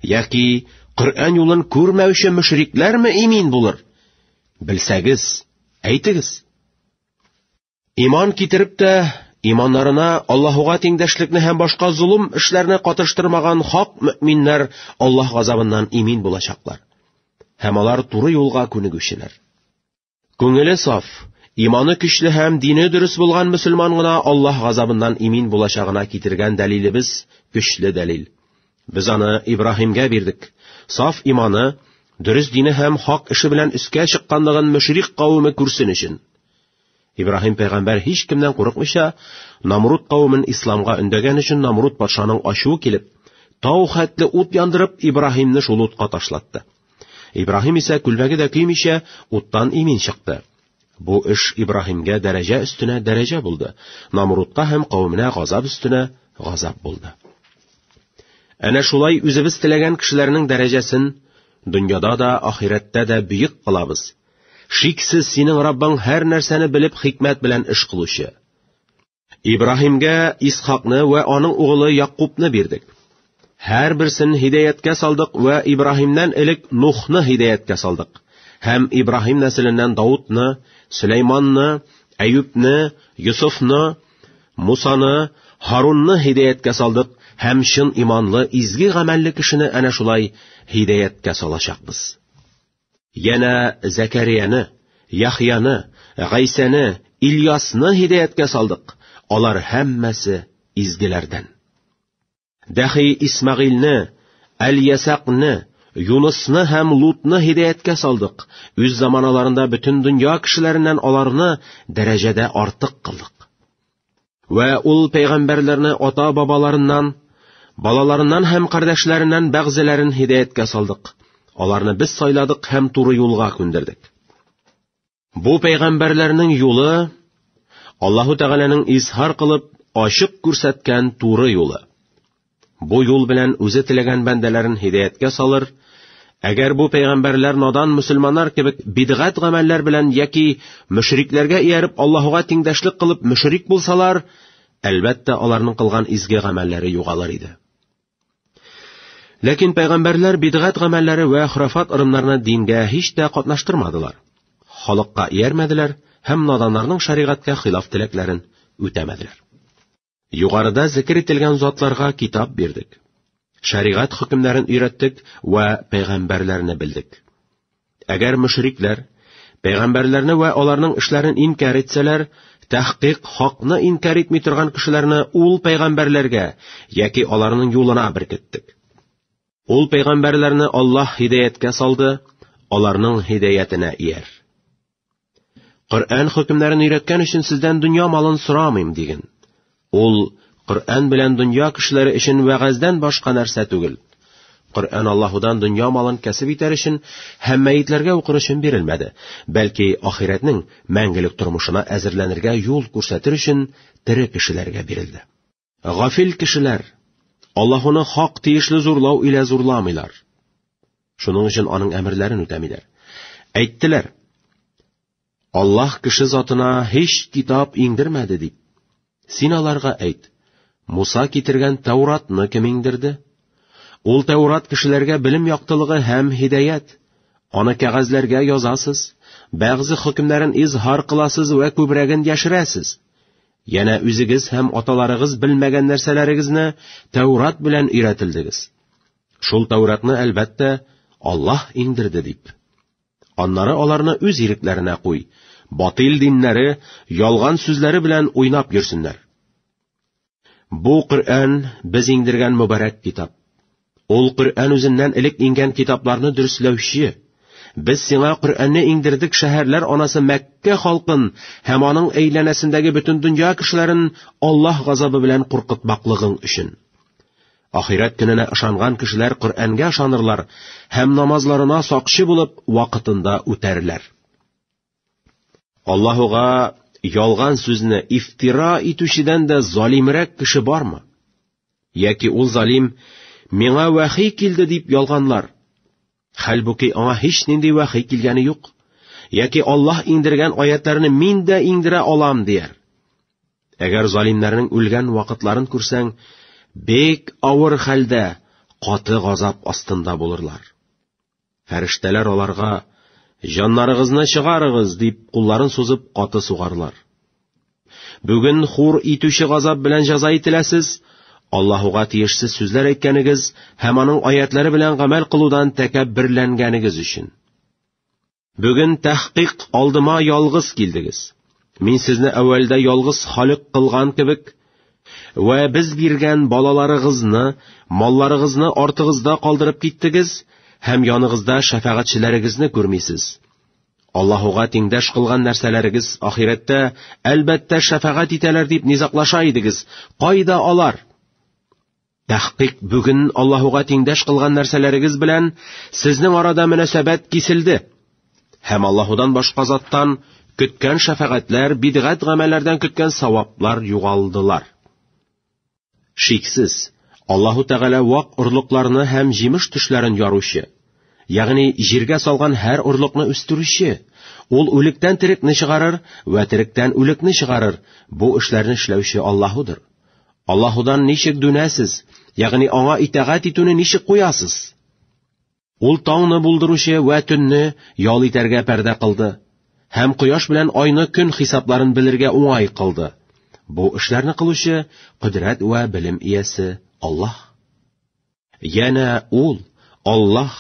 Яки Коръән юлын күрмәүче мөшрикләрме имин булыр? Белсәгез, әйтегез. Иман китереп тә, иманнарына Аллаһуга тиңдәшлекне һәм башка золым эшләрне катыштырмаган хак мөминнәр Аллаһ газабыннан имин булачаклар. Һәм алар туры юлга күнегүчеләр. Күңеле саф, иманы көчле һәм дине дөрес булган мөселман гына Аллаһ газабыннан имин булачагына китергән дәлилебез көчле дәлил. Без аны Ибраһимгә бирдек. Саф иманы, дөрес дине һәм хак эше белән өскә чыкканлыгын мөшрик кавеме күрсен өчен. Ибраһим пәйгамбәр һич кемнән курыкмыйча, Намруд кавемен исламга өндәгән өчен Намруд патшаның ачуы килеп, тау хәтле ут яндырып, Ибраһимны шул утка ташлатты. Ибраһим исә күлмәге дә көймичә, уттан имин чыкты. Бу эш Ибраһимгә дәрәҗә өстенә дәрәҗә булды, Намрудка һәм кавеменә газап өстенә газап булды. Әнә шулай үзебез теләгән кешеләрнең дәрәҗәсен дөньяда да, ахирәттә дә бөек кылабыз. Шиксез, синең Раббың һәр нәрсәне белеп хикмәт белән эш кылучы. Ибраһимгә Исхакны вә аның угылы Якубны бирдек. Һәр берсен һидәяткә салдык вә Ибраһимнән элек Нухны һидәяткә салдык. Һәм Ибраһим нәселеннән Даудны, Сөләйманны, Әюпне, Йосыфны, Мусаны, Харунны һидәяткә салдык һәм чын иманлы, изге гамәлле кешене әнә шулай һидәяткә салачакбыз. Янә Зәкәрияне, Яхьяны, Гайсәне, Ильясны һидәяткә салдык. Алар һәммәсе изгеләрдән. Дәхи Исмагыйльне, Әл-Ясакны, Юнысны һәм Лутны һидәяткә салдык. Үз заманаларында бөтен дөнья кешеләреннән аларны дәрәҗәдә артык кылдык. Вә ул пәйгамбәрләрне ата-бабаларыннан, балаларыннан һәм кардәшләреннән бәгъзеләрен һидаяткә салдык. Аларны без сайладык һәм туры юлга күндердек. Бу пәйгамбәрләрнең юлы Аллаһу Тәгаләнең изһар кылып ачык күрсәткән туры юлы. Бу юл белән үзе теләгән бәндәләрен һидәяткә салыр, әгәр бу пәйгамбәрләр надан мөселманнар кебек бидгат гамәлләр белән яки мөшрикләргә ияреп Аллаһуга тиңдәшлек кылып мөшрик булсалар, әлбәттә аларның кылган изге гамәлләре югалыр иде. Ләкин пәйгамбәрләр бидгат гамәлләре вә хурафат ырымнарны дингә һич тә катнаштырмадылар. Халыкка иярмәделәр һәм наданнарның шәригатькә хилаф теләкләрен үтәмәделәр. Югарыда зикер ителгән затларга китап бирдек. Шәригать хөкемнәрен өйрәттек вә пәйгамбәрләрне белдек. Әгәр мөшрикләр пәйгамбәрләрне вә аларның эшләрен инкар итсәләр, тәхкыйк хакны инкар итми торган кешеләрне ул пәйгамбәрләргә яки аларның юлына беркеттек. Ул пәйгамбәрләрне Аллаһ һидаяткә салды, аларның һидаятенә ияр. Коръән хөкемнәрен өйрәткән өчен сездән дөнья малын сорамыйм, диген. Ул Коръән белән дөнья кешеләре өчен вәгазьдән башка нәрсә түгел. Коръән Аллаһудан дөнья малын кәсеп итәр өчен һәм мәетләргә укыр өчен бирелмәде, бәлки ахирәтнең мәңгелек тормышына әзерләнергә юл күрсәтер өчен тере кешеләргә бирелде. Гафил кешеләр Аллаһуны хак тиешле зурлау илә зурламыйлар. Шуның өчен аның әмерләрен үтәмиләр. Әйттеләр: Аллаһ кеше затына һич китап иңдермәде дип. Син аларга әйт: Муса китергән Тауратны кем иңдерде? Ул Таурат кешеләргә белем яктылыгы һәм һидәят. Аны кәгазьләргә язасыз, бәгъзе хөкемнәрен изһар кыласыз вә күбрәген яшерәсез. Янә үзегез һәм аталарыгыз белмәгән нәрсәләрегезне Тәүрат белән өйрәтелдегез. Шул Тәүратны, әлбәттә, Аллаһ иңдерде дип. Аннары аларны үз ирекләренә куй, батил диннәре, ялган сүзләре белән уйнап йөрсеннәр. Бу Коръән без иңдергән мөбарәк китап. Ул Коръән үзеннән элек иңгән китапларны дөресләүче. Без сиңа Коръәнне иңдердек шәһәрләр анасы Мәккә халкын һәм аның әйләнәсендәге бөтен дөнья кешеләрен Аллаһ газабы белән куркытмаклыгың өчен. Ахирәт көненә ышанган кешеләр Коръәнгә ышанырлар һәм намазларына сакчы булып вакытында үтәрләр. Аллаһуга ялган сүзне ифтира итүчедән дә залимрәк кеше бармы? Яки ул залим миңа вәхи килде дип ялганлар. Хәлбуки аңа һич нинди вәхи килгәне юк. Яки Аллаһ иңдергән аятларны мин дә иңдерә алам дияр. Әгәр залимнәрнең үлгән вакытларын күрсәң, бик авыр хәлдә, каты газап астында булырлар. Фәрештәләр аларга, Җаннарыгызны чыгарыгыз, дип кулларын сузып каты сугарлар. Бүген хур итүче газап белән җәза ителәсез, Аллаһуга тиешсез сүзләр әйткәнегез һәм аның аятлары белән гамәл кылудан тәкәбберләнгәнегез өчен. Бүген тәхкыйк алдыма ялгыз килдегез. Мин сезне әүвәлдә ялгыз халык кылган кебек, вә без биргән балаларыгызны, малларыгызны артыгызда калдырып киттегез һәм яныгызда шәфәгатьчеләрегезне күрмисез. Аллаһуга тиңдәш кылган нәрсәләрегез ахирәттә, әлбәттә, шәфәгать итәләр дип низаклаша идегез. Кайда алар? Тәхкыйк бүген Аллаһуга тиңдәш кылган нәрсәләрегез белән сезнең арада мөнәсәбәт киселде. Һәм Аллаһудан башка заттан көткән шәфәгатьләр, бидгат гамәлләрдән көткән саваплар югалдылар. Шиксез, Аллаһу Тәгалә вак орлыкларны һәм җимеш төшләрен яручы, ягъни җиргә салган һәр орлыкны үстерүче, ул үлектән терекне чыгарыр вә теректән үлекне чыгарыр, бу эшләрне эшләүче Аллаһудыр. Аллаһудан ничек дүнәсез, ягъни аңа итагать итүне ничек куясыз? Ул таңны булдыручы вә төнне ял итәргә пәрдә кылды һәм кояш белән айны көн хисапларын белергә уңай кылды. Бу эшләрне кылучы, кодрәт вә белем иясе Аллаһ. Янә ул, Аллаһ,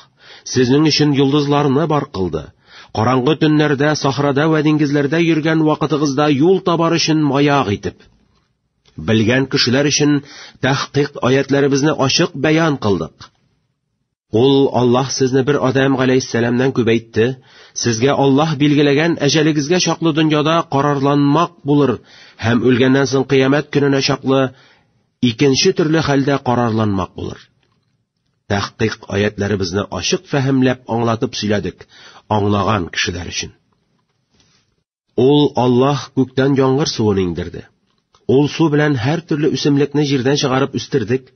сезнең өчен йолдызларны бар кылды. Караңгы төннәрдә, сахрада вә диңгезләрдә йөргән вакытыгызда юл табар өчен маяк итеп. Белгән кешеләр өчен тәхкыйк аятләребезне ачык бәян кылдык. Ул Аллаһ сезне бер Адам галәйһиссәламнән күбәйтте, сезгә Аллаһ билгеләгән әҗәлегезгә чаклы дөньяда карарланмак булыр һәм үлгәннән соң кыямәт көненә чаклы Икенче төрле хәлдә карарланмак булыр. Тәхкыйк аятләребезне ачык фәһемләп аңлатып сөйләдек, аңлаган кешеләр өчен. Ул Аллаһ күктән яңгыр суын иңдерде. Ул су белән һәр төрле үсемлекне җирдән чыгарып үстердек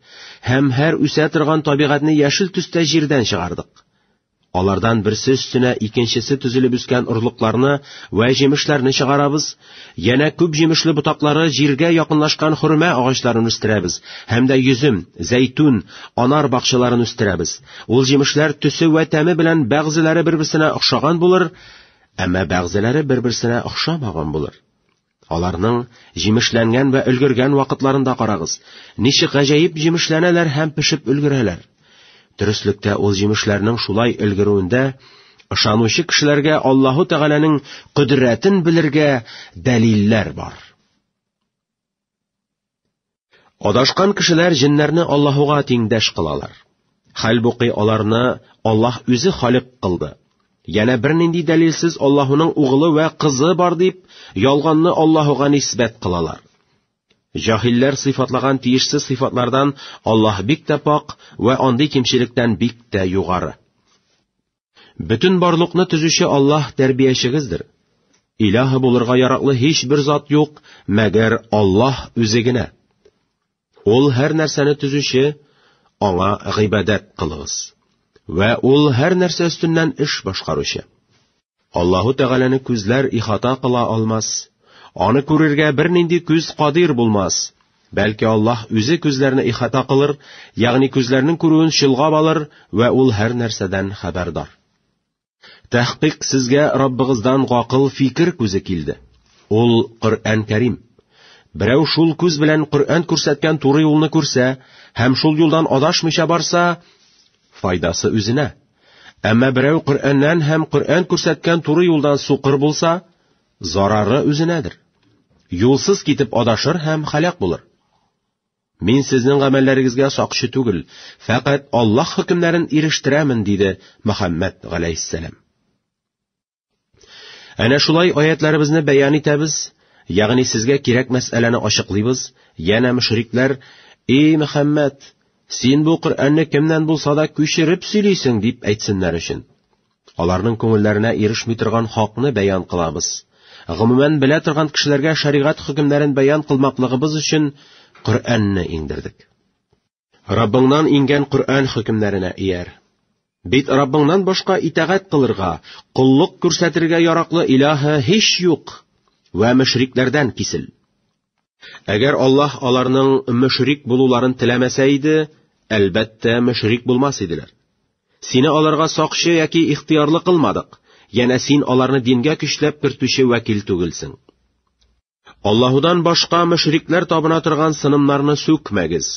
һәм һәр үсә торган табигатьне яшел төстә җирдән чыгардык. Алардан берсе өстенә икенчесе төзелеп үскән орлыкларны вә җимешләрне чыгарабыз. Янә күп җимешле ботаклары җиргә якынлашкан хөрмә агачларын үстерәбез һәм дә йөзем, зәйтүн, анар бакчаларын үстерәбез. Ул җимешләр төсе вә тәме белән бәгъзеләре бер-берсенә охшаган булыр, әмма бәгъзеләре бер-берсенә охшамаган булыр. Аларның җимешләнгән вә өлгергән вакытларында карагыз, ничек гаҗәеп җимешләнәләр һәм пешеп өлгерәләр. Төреслектә ул җимешләрнең шулай өлгерүендә ышанучы кешеләргә Аллаһу Тәгаләнең кодрәтен белергә дәлилләр бар. Адашкан кешеләр җеннәрне Аллаһуга тиңдәш кылалар. Хәлбуки аларны Аллаһ үзе халык кылды. Янә бернинди дәлилсез Аллаһуның угылы вә кызы бар дип, ялганны Аллаһуга нисбәт кылалар. Җаһилләр сыйфатлаган тиешсез сыйфатлардан Аллаһ бик тә пак вә андый кимчелектән бик тә югары. Бөтен барлыкны төзүче Аллаһ тәрбиячегездер. Илаһы булырга яраклы һичбер зат юк, мәгәр Аллаһ үзе генә. Ул һәр нәрсәне төзүче, аңа гыйбадәт кылыгыз. Вә ул һәр нәрсә өстеннән эш башкаручы. Аллаһу Тәгаләне күзләр ихата кыла алмас, аны күрергә бернинди күз кадир булмас. Бәлки Аллаһ үзе күзләрне ихата кылыр, ягъни күзләрнең күрүен чолгап алыр вә ул һәр нәрсәдән хәбәрдар. Тәхкыйк сезгә Раббыгыздан гакыл фикер күзе килде. Ул Коръән Кәрим. Берәү шул күз белән Коръән күрсәткән туры юлны күрсә һәм шул юлдан адашмыйча барса, файдасы үзенә. Әмма берәү Коръәннән һәм Коръән күрсәткән туры юлдан сукыр булса, Зарары үзенәдер. Юлсыз китеп адашыр һәм халәк булыр. Мин сезнең гамәлләрегезгә сакчы түгел, фәкать Аллаһ хөкемнәрен ирештерәмен, диде Мөхәммәд галәйһиссәлам. Әнә шулай аятларыбызны бәян итәбез, ягъни сезгә кирәк мәсьәләне ачыклыйбыз, янә мөшрикләр, "Эй Мөхәммәд, син бу Коръәнне кемнән булса да күчереп сөйлисең" дип әйтсеннәр өчен. Аларның күңелләренә ирешми торган хакны бәян кылабыз. Гомумән, белә торган кешеләргә шәригать хөкемнәрен бәян кылмаклыгыбыз өчен Коръәнне иңдердек. Раббыңнан иңгән Коръән хөкемнәренә ияр. Бит Раббыңнан башка итагать кылырга, коллык күрсәтергә яраклы илаһы һич юк. Вә мөшрикләрдән кисел. Әгәр Аллаһ аларның мөшрик булуларын теләмәсә иде, әлбәттә, мөшрик булмас иделәр. Сине аларга сакчы яки ихтыярлы кылмадык, янә син аларны дингә көчләп кертүче вәкил түгелсең. Аллаһудан башка мөшрикләр табына торган сынымнарны сүкмәгез.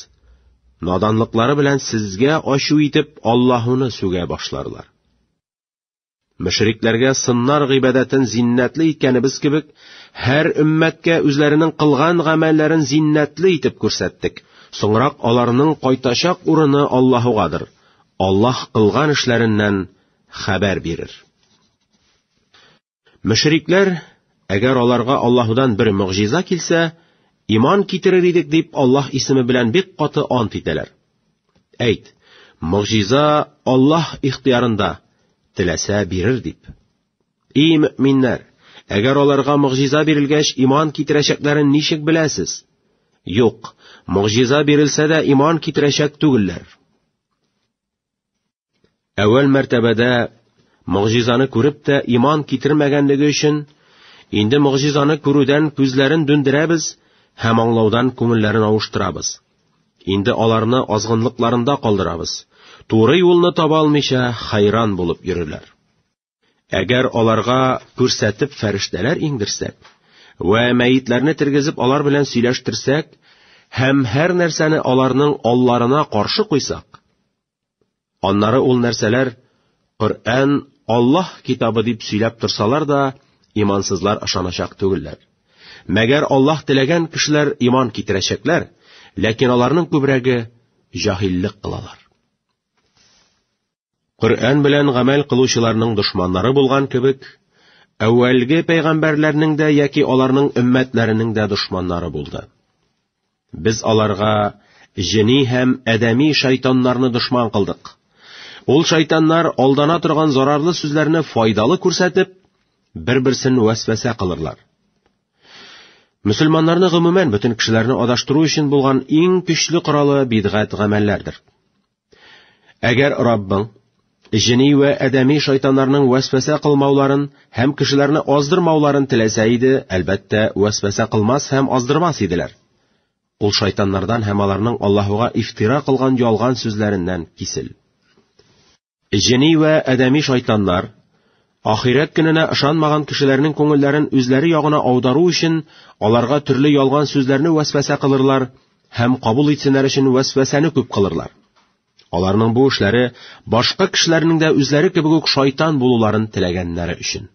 Наданлыклары белән сезгә ачу итеп Аллаһуны сүгә башларлар. Мөшрикләргә сыннар гыйбадәтен зиннәтле иткәнебез кебек, һәр өммәткә үзләренең кылган гамәлләрен зиннәтле итеп күрсәттек. Соңрак аларның кайтачак урыны Аллаһугадыр. Аллаһ кылган эшләреннән хәбәр бирер. Мөшрикләр, әгәр аларга Аллаһудан бер мөгъҗиза килсә, иман китерер идек дип Аллаһ исеме белән бик каты ант итәләр. Әйт, могҗиза Аллаһ ихтиярында, теләсә бирер дип. И мөминнәр, әгәр аларга могҗиза бирелгәч иман китерәчәкләрен ничек беләсез? Юк, могҗиза бирелсә дә иман китерәчәк түгелләр. Әүвәл мәртәбәдә могҗизаны күреп тә иман китермәгәнлеге өчен, инде могҗизаны күрүдән күзләрен дүндерәбез һәм аңлаудан күңелләрен авыштырабыз. Инде аларны азгынлыкларында калдырабыз. Туры юлны таба алмыйча, хайран булып йөриләр. Әгәр аларга күрсәтеп фәрештәләр иңдерсәк, вә мәетләрне тергезеп алар белән сөйләштерсәк, һәм һәр нәрсәне аларның алларына каршы куйсак, аннары ул нәрсәләр Коръән Аллаһ китабы дип сөйләп торсалар да, имансызлар ышаначак түгелләр. Мәгәр Аллаһ теләгән кешеләр иман китерәчәкләр, ләкин аларның күбрәге җаһиллек кылалар. Коръән белән гамәл кылучыларның дошманнары булган кебек, әүвәлге пәйгамбәрләрнең дә яки аларның өммәтләренең дә дошманнары булды. Без аларга җени һәм адәми шайтаннарны дошман кылдык. Ул шайтаннар алдана торган зарарлы сүзләрне файдалы күрсәтеп, бер-берсен вәсвәсә кылырлар. Мөселманнарны гомумән бөтен кешеләрне адаштыру өчен булган иң көчле коралы бидгать гамәлләрдер. Әгәр Раббың җени вә адәми шайтаннарның вәсвәсә кылмауларын һәм кешеләрне аздырмауларын теләсә иде, әлбәттә, вәсвәсә кылмас һәм аздырмас иделәр. Ул шайтаннардан һәм аларның Аллаһуга ифтира кылган ялган сүзләреннән кисел. Җени вә адәми шайтаннар Ахирәт көненә ышанмаган кешеләрнең күңелләрен үзләре ягына аудару өчен аларга төрле ялган сүзләрне вәсвәсә кылырлар һәм кабул итсеннәр өчен вәсвәсәне күп кылырлар. Аларның бу эшләре башка кешеләрнең дә үзләре кебек үк шайтан булуларын теләгәннәре өчен.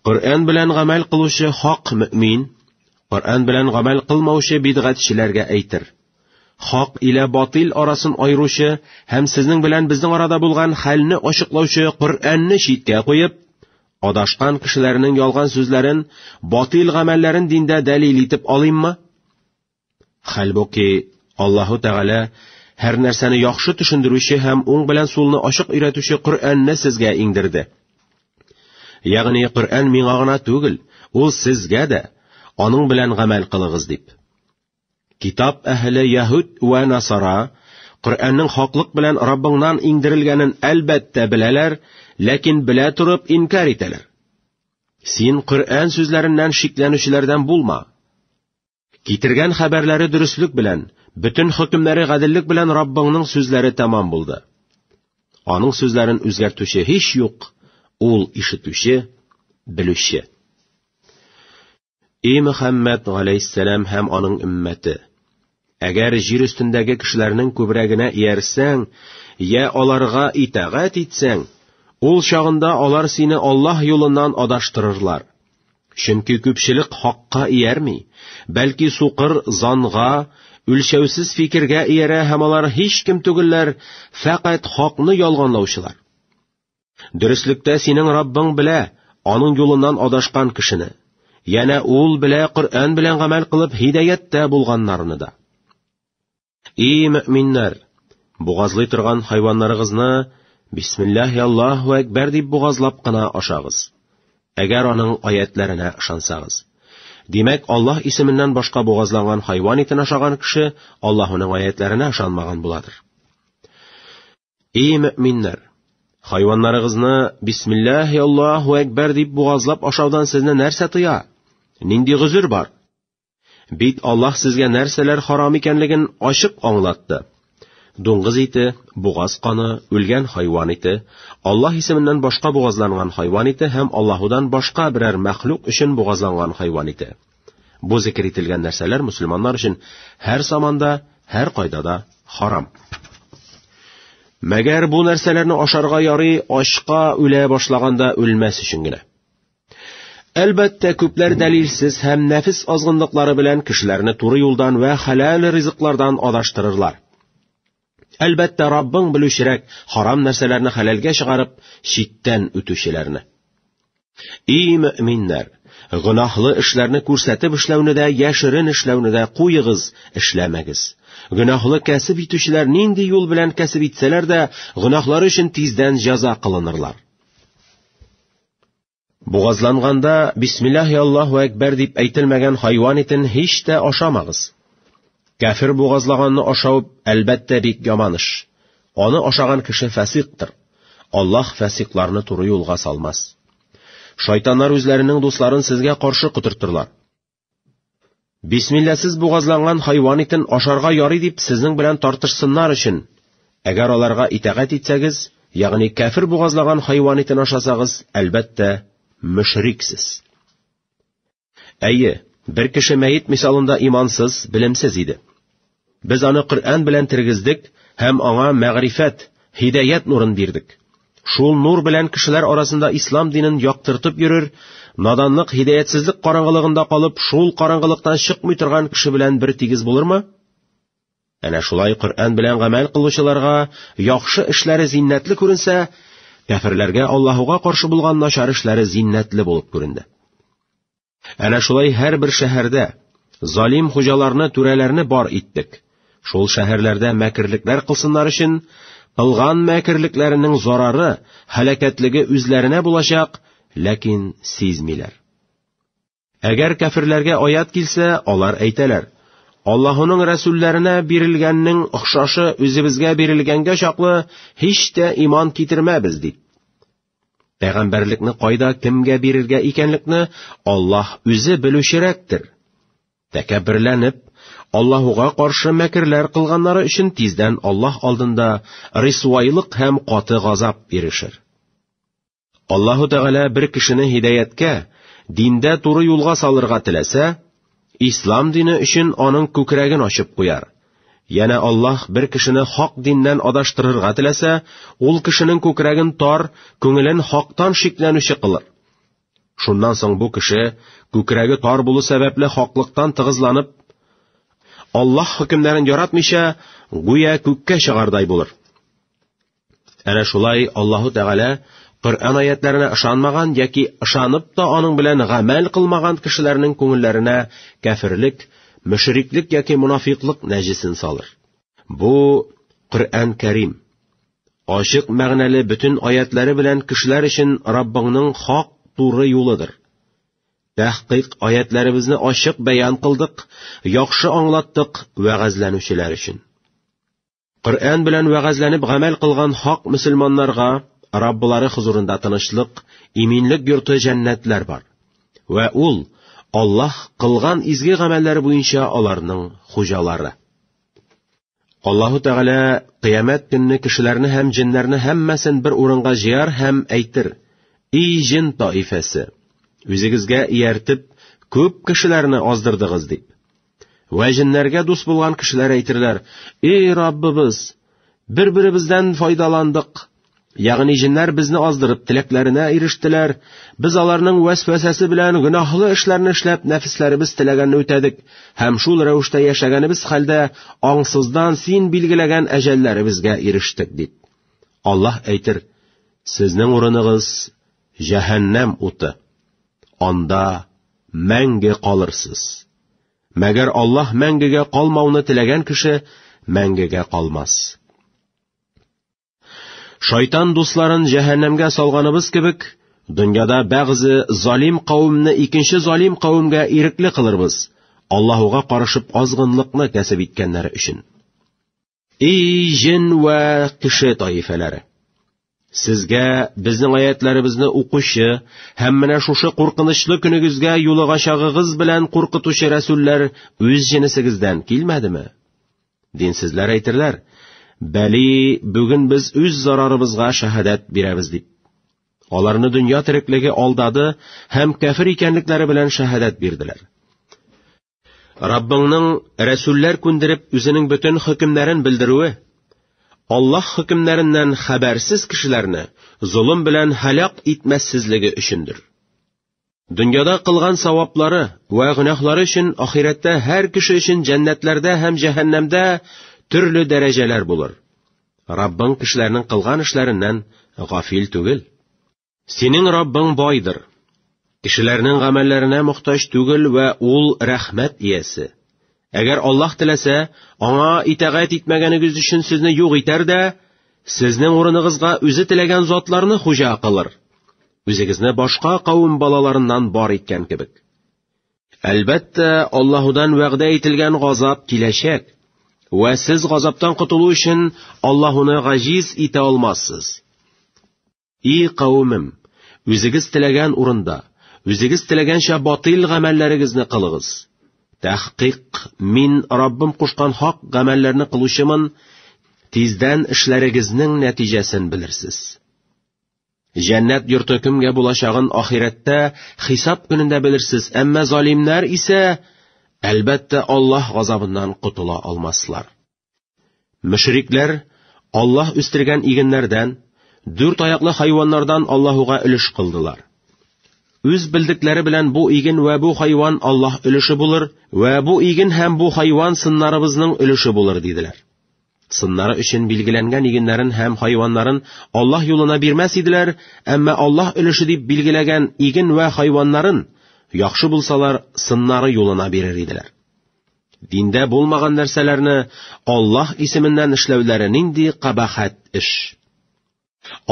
Коръән белән гамәл кылучы хак мөмин, Коръән белән гамәл кылмаучы бидгатьчеләргә әйтер. Хак илә батил арасын айручы һәм сезнең белән безнең арада булган хәлне ачыклаучы Коръәнне читкә куеп, адашкан кешеләрнең ялган сүзләрен, батил гамәлләрен диндә дәлил итеп алыйммы? Хәлбуки, Аллаһу Тәгалә һәр нәрсәне яхшы төшендерүче һәм уң белән сулны ачык өйрәтүче Коръәнне сезгә иңдерде. Ягъни Коръән миңа гына түгел, ул сезгә дә, аның белән гамәл кылыгыз дип. Китап әһеле Яһүд вә Насара Коръәннең хаклык белән Раббыңнан иңдерелгәнен әлбәттә беләләр, ләкин белә торып инкар итәләр. Син Коръән сүзләреннән шикләнүчеләрдән булма. Китергән хәбәрләре дөреслек белән, бөтен хөкемнәре гаделлек белән Раббыңның сүзләре тәмам булды. Аның сүзләрен үзгәртүче һич юк, ул ишетүче, белүче. И Мөхәммәд галәйһиссәлам һәм аның өммәте, әгәр җир өстендәге кешеләрнең күбрәгенә иярсәң, я аларга итагать итсәң, ул чагында алар сине Аллаһ юлыннан адаштырырлар. Чөнки күпчелек хакка иярми, бәлки сукыр занга, үлчәүсез фикергә иярә һәм алар һич кем түгелләр, фәкать хакны ялганлаучылар. Дөреслектә синең Раббың белә, аның юлыннан адашкан кешене. Янә ул белә Коръән белән гамәл кылып һидәяттә булганнарны да. Ий мөминнәр, бугазлый торган хайваннарыгызны бисмиллаһи Аллаһу әкбәр дип бугазлап кына ашагыз. Әгәр аның аятләренә ышансагыз. Димәк, Аллаһ исеменнән башка бугазланган хайван итен ашаган кеше Аллаһуның аятләренә ышанмаган буладыр. Ий мөминнәр, хайваннарыгызны бисмиллаһи Аллаһу әкбәр дип бугазлап ашаудан сезне нәрсә тыя? Нинди гозер бар? Бит Аллаһ сезгә нәрсәләр харам икәнлеген ачык аңлатты. Дуңгыз ите, бугаз каны, үлгән хайван ите, Аллаһ исеменнән башка бугазланган хайван ите һәм Аллаһудан башка берәр мәхлук өчен бугазланган хайван ите. Бу зикер ителгән нәрсәләр мусульманнар өчен һәр заманда, һәр кайда да харам. Мәгәр бу нәрсәләрне ашарга ярый ачка үлә башлаганда үлмәс өчен генә. Әлбәттә, күпләр дәлилсез һәм нәфис азгынлыклары белән кешеләрне туры юлдан вә хәләл ризыклардан адаштырырлар. Әлбәттә, Раббың белүчерәк харам нәрсәләрне хәләлгә чыгарып, читтән үтүчеләрне. И мөминнәр, гөнаһлы эшләрне күрсәтеп эшләүне дә, яшерен эшләүне дә куегыз, эшләмәгез. Гөнаһлы кәсеп итүчеләр нинди юл белән кәсеп итсәләр дә, гөнаһлары өчен тиздән җәза кылынырлар. Бугазланганда бисмиллаһи Аллаһу әкбәр дип әйтелмәгән хайван итен һич тә ашамагыз. Кәфир бугазлаганны ашау әлбәттә бик яман эш. Аны ашаган кеше фәсиктер. Аллаһ фәсикларны туры юлга салмас. Шайтаннар үзләренең дусларын сезгә каршы котыртырлар. Бисмилласыз бугазланган хайван итен ашарга ярый дип сезнең белән тартышсыннар өчен, әгәр аларга итәгать итсәгез, ягъни кәфир бугазлаган хайван итен ашасагыз, әлбәттә, мөшриксез. Әйе, бер кеше мәет мисалында имансыз, белемсез иде. Без аны Коръән белән тергездек һәм аңа мәгърифәт, һидәят нурын бирдек. Шул нур белән кешеләр арасында ислам динен яктыртып йөрер, наданлык, һидәятсезлек караңгылыгында калып, шул караңгылыктан чыкмый торган кеше белән бер тигез булырмы? Әнә шулай Коръән белән гамәл кылучыларга яхшы эшләре зиннәтле күренсә, кәферләргә Аллаһуга каршы булган начар эшләре зиннәтле булып күренде. Әнә шулай һәрбер шәһәрдә залим хуҗаларны, түрәләрне бар иттек. Шул шәһәрләрдә мәкерлекләр кылсыннар өчен, кылган мәкерлекләренең зарары, һәлакәтлеге үзләренә булачак, ләкин сизмиләр. Әгәр кәфирләргә аят килсә, алар әйтәләр: Аллаһуның рәсүлләренә бирелгәннең охшашы үзебезгә бирелгәнгә чаклы һич тә иман китермәбез дип. Пәгамбәрлекне кайда кемгә бирергә икәнлекне Аллаһ үзе белүчерәктер. Тәкәбберләнеп, Аллаһуга каршы мәкерләр кылганнары өчен тиздән Аллаһ алдында рисуайлык һәм каты газап ирешер. Аллаһу Тәгалә бер кешене һидаяткә, диндә туры юлга салырга теләсә, Ислам дине өчен аның күкрәген ачып куяр. Яна Аллаһ бер кешене хак диннән адаштырырга теләсә, ул кешенең күкрәген тар, күңелен хактан шикләнүче кылыр. Шуннан соң бу кеше, күкрәге тар булу сәбәпле хаклыктан тыгызланып, Аллаһ хөкемнәрен яратмыйча, гүя күккә чыгардай булыр. Әнә шулай Аллаһу Тәгалә Коръән аятларына ышанмаган яки ышанып та аның белән гамәл кылмаган кешеләрнең күңелләренә кәфирлек, мөшриклек яки мунафиклык нәҗесен салыр. Бу Коръән Кәрим. Ачык мәгънәле бөтен аятлары белән кешеләр өчен Раббыңның хак туры юлыдыр. Тәхкыйк аятларыбызны ачык бәян кылдык, яхшы аңлаттык вәгазьләнүчеләр өчен. Коръән белән вәгазьләнеп гамәл кылган хак мөселманнарга Раббылары хозурында тынычлык, иминлек йорты җәннәтләр бар. Вә ул Аллаһ кылган изге гамәлләр буенча аларның хуҗалары. Аллаһу Тәгалә кыямәт көнне кешеләрне һәм җеннәрне һәммәсен бер урынга җыяр һәм әйтер: "И җен таифәсе, үзегезгә ияртеп, күп кешеләрне аздырдыгыз" дип. Вә җеннәргә дус булган кешеләр әйтерләр, «Эй Раббыбыз, бер-беребездән файдаландык». Ягъни җеннәр безне аздырып, теләкләренә ирештеләр. Без аларның вәсвәсәсе белән гөнаһлы эшләрне эшләп, нәфесләребез теләгәнне үтәдек һәм шул рәвештә яшәгәнебез хәлдә аңсыздан син билгеләгән әҗәлләребезгә ирештек дип. Аллаһ әйтер: Сезнең урыныгыз җәһәннәм уты. Анда мәңге калырсыз. Мәгәр Аллаһ мәңгегә калмауны теләгән кеше мәңгегә калмас. Шайтан дусларын җәһәннәмгә салганыбыз кебек, дөньяда бәгъзе залим кавымны икенче залим кавымгә ирекле кылырбыз, Аллаһуга карышып азгынлыкны кәсеп иткәннәре өчен. Эй, җен вә кеше таифәләре! Сезгә безнең аятларыбызны укучы һәм менә шушы куркынычлы көнегезгә юлыгачагыгыз белән куркытучы рәсүлләр үз җенесегездән килмәдеме? Динсезләр әйтерләр, бәли, бүген без үз зарарыбызга шәһадәт бирәбез дип. Аларны дөнья тереклеге алдады һәм кәфир икәнлекләре белән шәһадәт бирделәр. Раббыңның рәсүлләр күндереп үзенең бөтен хөкемнәрен белдерүе Аллаһ хөкемнәреннән хәбәрсез кешеләрне золым белән һәлак итмәссезлеге өчендер. Дөньяда кылган саваплары вә гөнаһлары өчен ахирәттә һәр кеше өчен җәннәтләрдә һәм җәһәннәмдә төрле дәрәҗәләр булыр. Раббың кешеләрнең кылган эшләреннән гафил түгел. Синең Раббың байдыр. Кешеләрнең гамәлләренә мохтаҗ түгел вә ул рәхмәт иясе. Әгәр Аллаһ теләсә, аңа итәгать итмәгәнегез өчен сезне юк итәр дә, сезнең урыныгызга үзе теләгән затларны хуҗа кылыр. Үзегезне башка кавым балаларыннан бар иткән кебек. Әлбәттә, Аллаһудан вәгъдә ителгән газап киләчәк. Вә сез газаптан котылу өчен Аллаһуны гаҗиз итә алмассыз. И кавемем, үзегез теләгән урында, үзегез теләгәнчә батыл гамәлләрегезне кылыгыз. Тәхкыйк, мин Раббым кушкан хак гамәлләрне кылучымын, тиздән эшләрегезнең нәтиҗәсен белерсез. Җәннәт йорты кемгә булачагын ахирәттә хисап көнендә белерсез, әмма залимнәр исә, әлбәттә, Аллаһ газабыннан котыла алмаслар. Мөшрикләр Аллаһ үстергән игеннәрдән, дүрт аяклы хайваннардан Аллаһуга өлеш кылдылар. Үз белдекләре белән бу иген вә бу хайван Аллаһ өлеше булыр, вә бу иген һәм бу хайван сыннарыбызның өлеше булыр, диделәр. Сыннары өчен билгеләнгән игеннәрен һәм хайваннарын Аллаһ юлына бирмәс иделәр, әмма Аллаһ өлеше дип билгеләгән иген вә хайваннарын, яхшы булсалар, сыннары юлына бирер иделәр. Диндә булмаган нәрсәләрне Аллаһ исеменнән эшләүләре нинди кабахәт эш.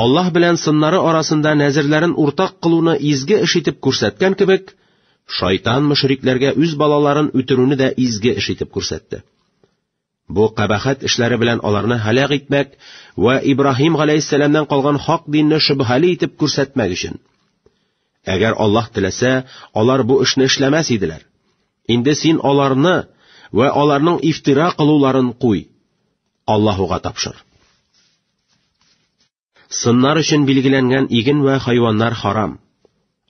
Аллаһ белән сыннары арасында нәзерләрен уртак кылуны изге эш итеп күрсәткән кебек, шайтан мөшрикләргә үз балаларын үтерүне дә изге эш итеп күрсәтте. Бу кабахәт эшләре белән аларны һәлак итмәк вә Ибраһим галәйһиссәламнән калган хак динне шөбһәле итеп күрсәтмәк өчен. Әгәр Аллаһ теләсә, алар бу эшне эшләмәс иделәр. Инде син аларны вә аларның ифтира кылуларын куй. Аллаһуга тапшыр. Сыннар өчен билгеләнгән иген вә хайваннар харам.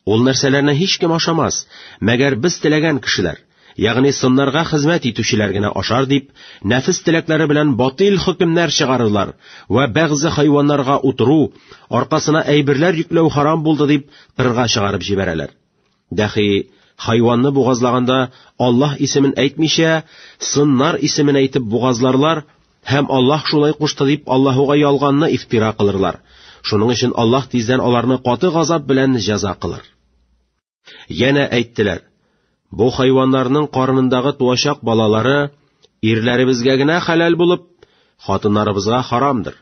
Ул нәрсәләрне һич кем ашамас, мәгәр без теләгән кешеләр. ягъни сыннарга хезмәт итүчеләр генә ашар дип, нәфес теләкләре белән батил хөкемнәр чыгарырлар вә бәгъзе хайваннарга утыру, аркасына әйберләр йөкләү харам булды дип, кырга чыгарып җибәрәләр. Дәхи, хайванны бугазлаганда Аллаһ исемен әйтмичә, сыннар исемен әйтеп бугазларлар һәм Аллаһ шулай кушты дип Аллаһуга ялганны ифтира кылырлар. Шуның өчен Аллаһ тиздән аларны каты газап белән җәза кылыр. Янә әйттеләр, бу хайваннарның карынындагы туачак балалары ирләребезгә генә хәләл булып, хатыннарыбызга харамдыр.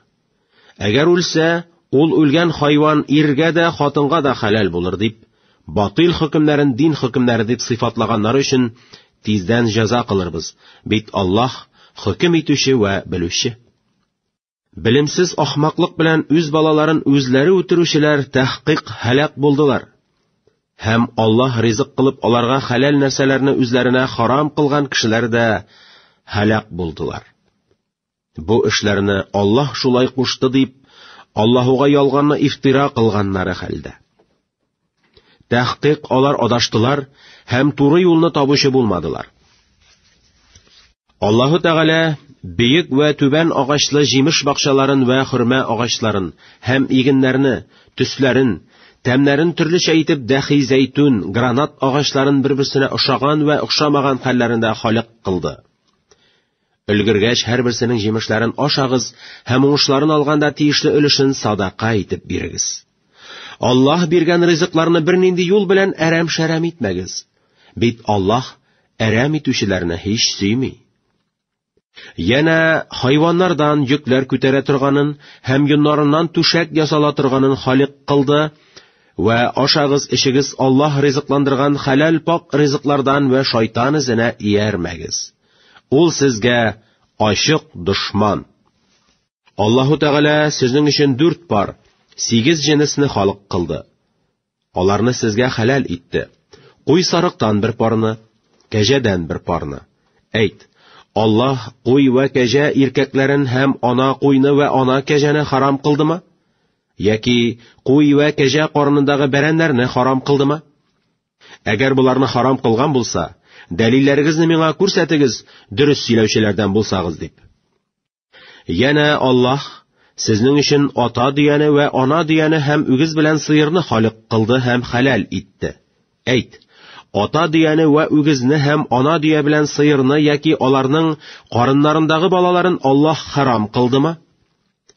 Әгәр үлсә, ул үлгән хайван иргә дә, хатынга да хәләл булыр дип, батил хөкемнәрен дин хөкемнәре дип сыйфатлаганнар өчен тиздән җәза кылырбыз, бит Аллаһ хөкем итүче вә белүче. Белемсез ахмаклык белән үз балаларын үзләре үтерүчеләр тәхкыйк һәлак булдылар. Һәм Аллаһ ризык кылып аларга хәләл нәрсәләрне үзләренә харам кылган кешеләр дә һәлак булдылар. Бу эшләрне Аллаһ шулай кушты дип, Аллаһуга ялганны ифтира кылганнары хәлдә. Тәхкыйк алар адаштылар һәм туры юлны табучы булмадылар. Аллаһу Тәгалә бөек вә түбән агачлы җимеш бакчаларын вә хөрмә агачларын һәм игеннәрне, төсләрен, тәмнәрен төрлечә итеп дәхи зәйтүн, гранат агачларын бер-берсенә ошаган вә охшамаган хәлләрендә халык кылды. Өлгергәч һәрберсенең җимешләрен ашагыз һәм уңышларын алганда тиешле өлешен садака итеп бирегез. Аллаһ биргән ризыкларны бернинди юл белән әрәм-шәрәм итмәгез. Бит Аллаһ әрәм итүчеләрне һич сөйми. Яна хайваннардан йөкләр күтәрә торганын һәм юннарыннан түшәк ясала торганын халык кылды, Вә ашагыз, эчегез Аллаһ ризыкландырган хәләл пак ризыклардан вә шайтан эзенә иярмәгез. Ул сезгә ачык дошман. Аллаһу Тәгалә сезнең өчен дүрт пар, сигез җенесне халык кылды. Аларны сезгә хәләл итте. Куй сарыктан бер парны, кәҗәдән бер парны. Әйт, Аллаһ куй вә кәҗә иркәкләрен һәм ана куйны вә ана кәҗәне харам кылдымы? Яки куй вә кәҗә карынындагы бәрәннәрне харам кылдымы? Әгәр боларны харам кылган булса, дәлилләрегезне миңа күрсәтегез, дөрес сөйләүчеләрдән булсагыз дип. Янә Аллаһ сезнең өчен ата дөяне вә ана дөяне һәм үгез белән сыерны халык кылды һәм хәләл итте. Әйт, ата дөяне вә үгезне һәм ана дөя белән сыерны яки аларның карыннарындагы балаларын Аллаһ харам кылдымы?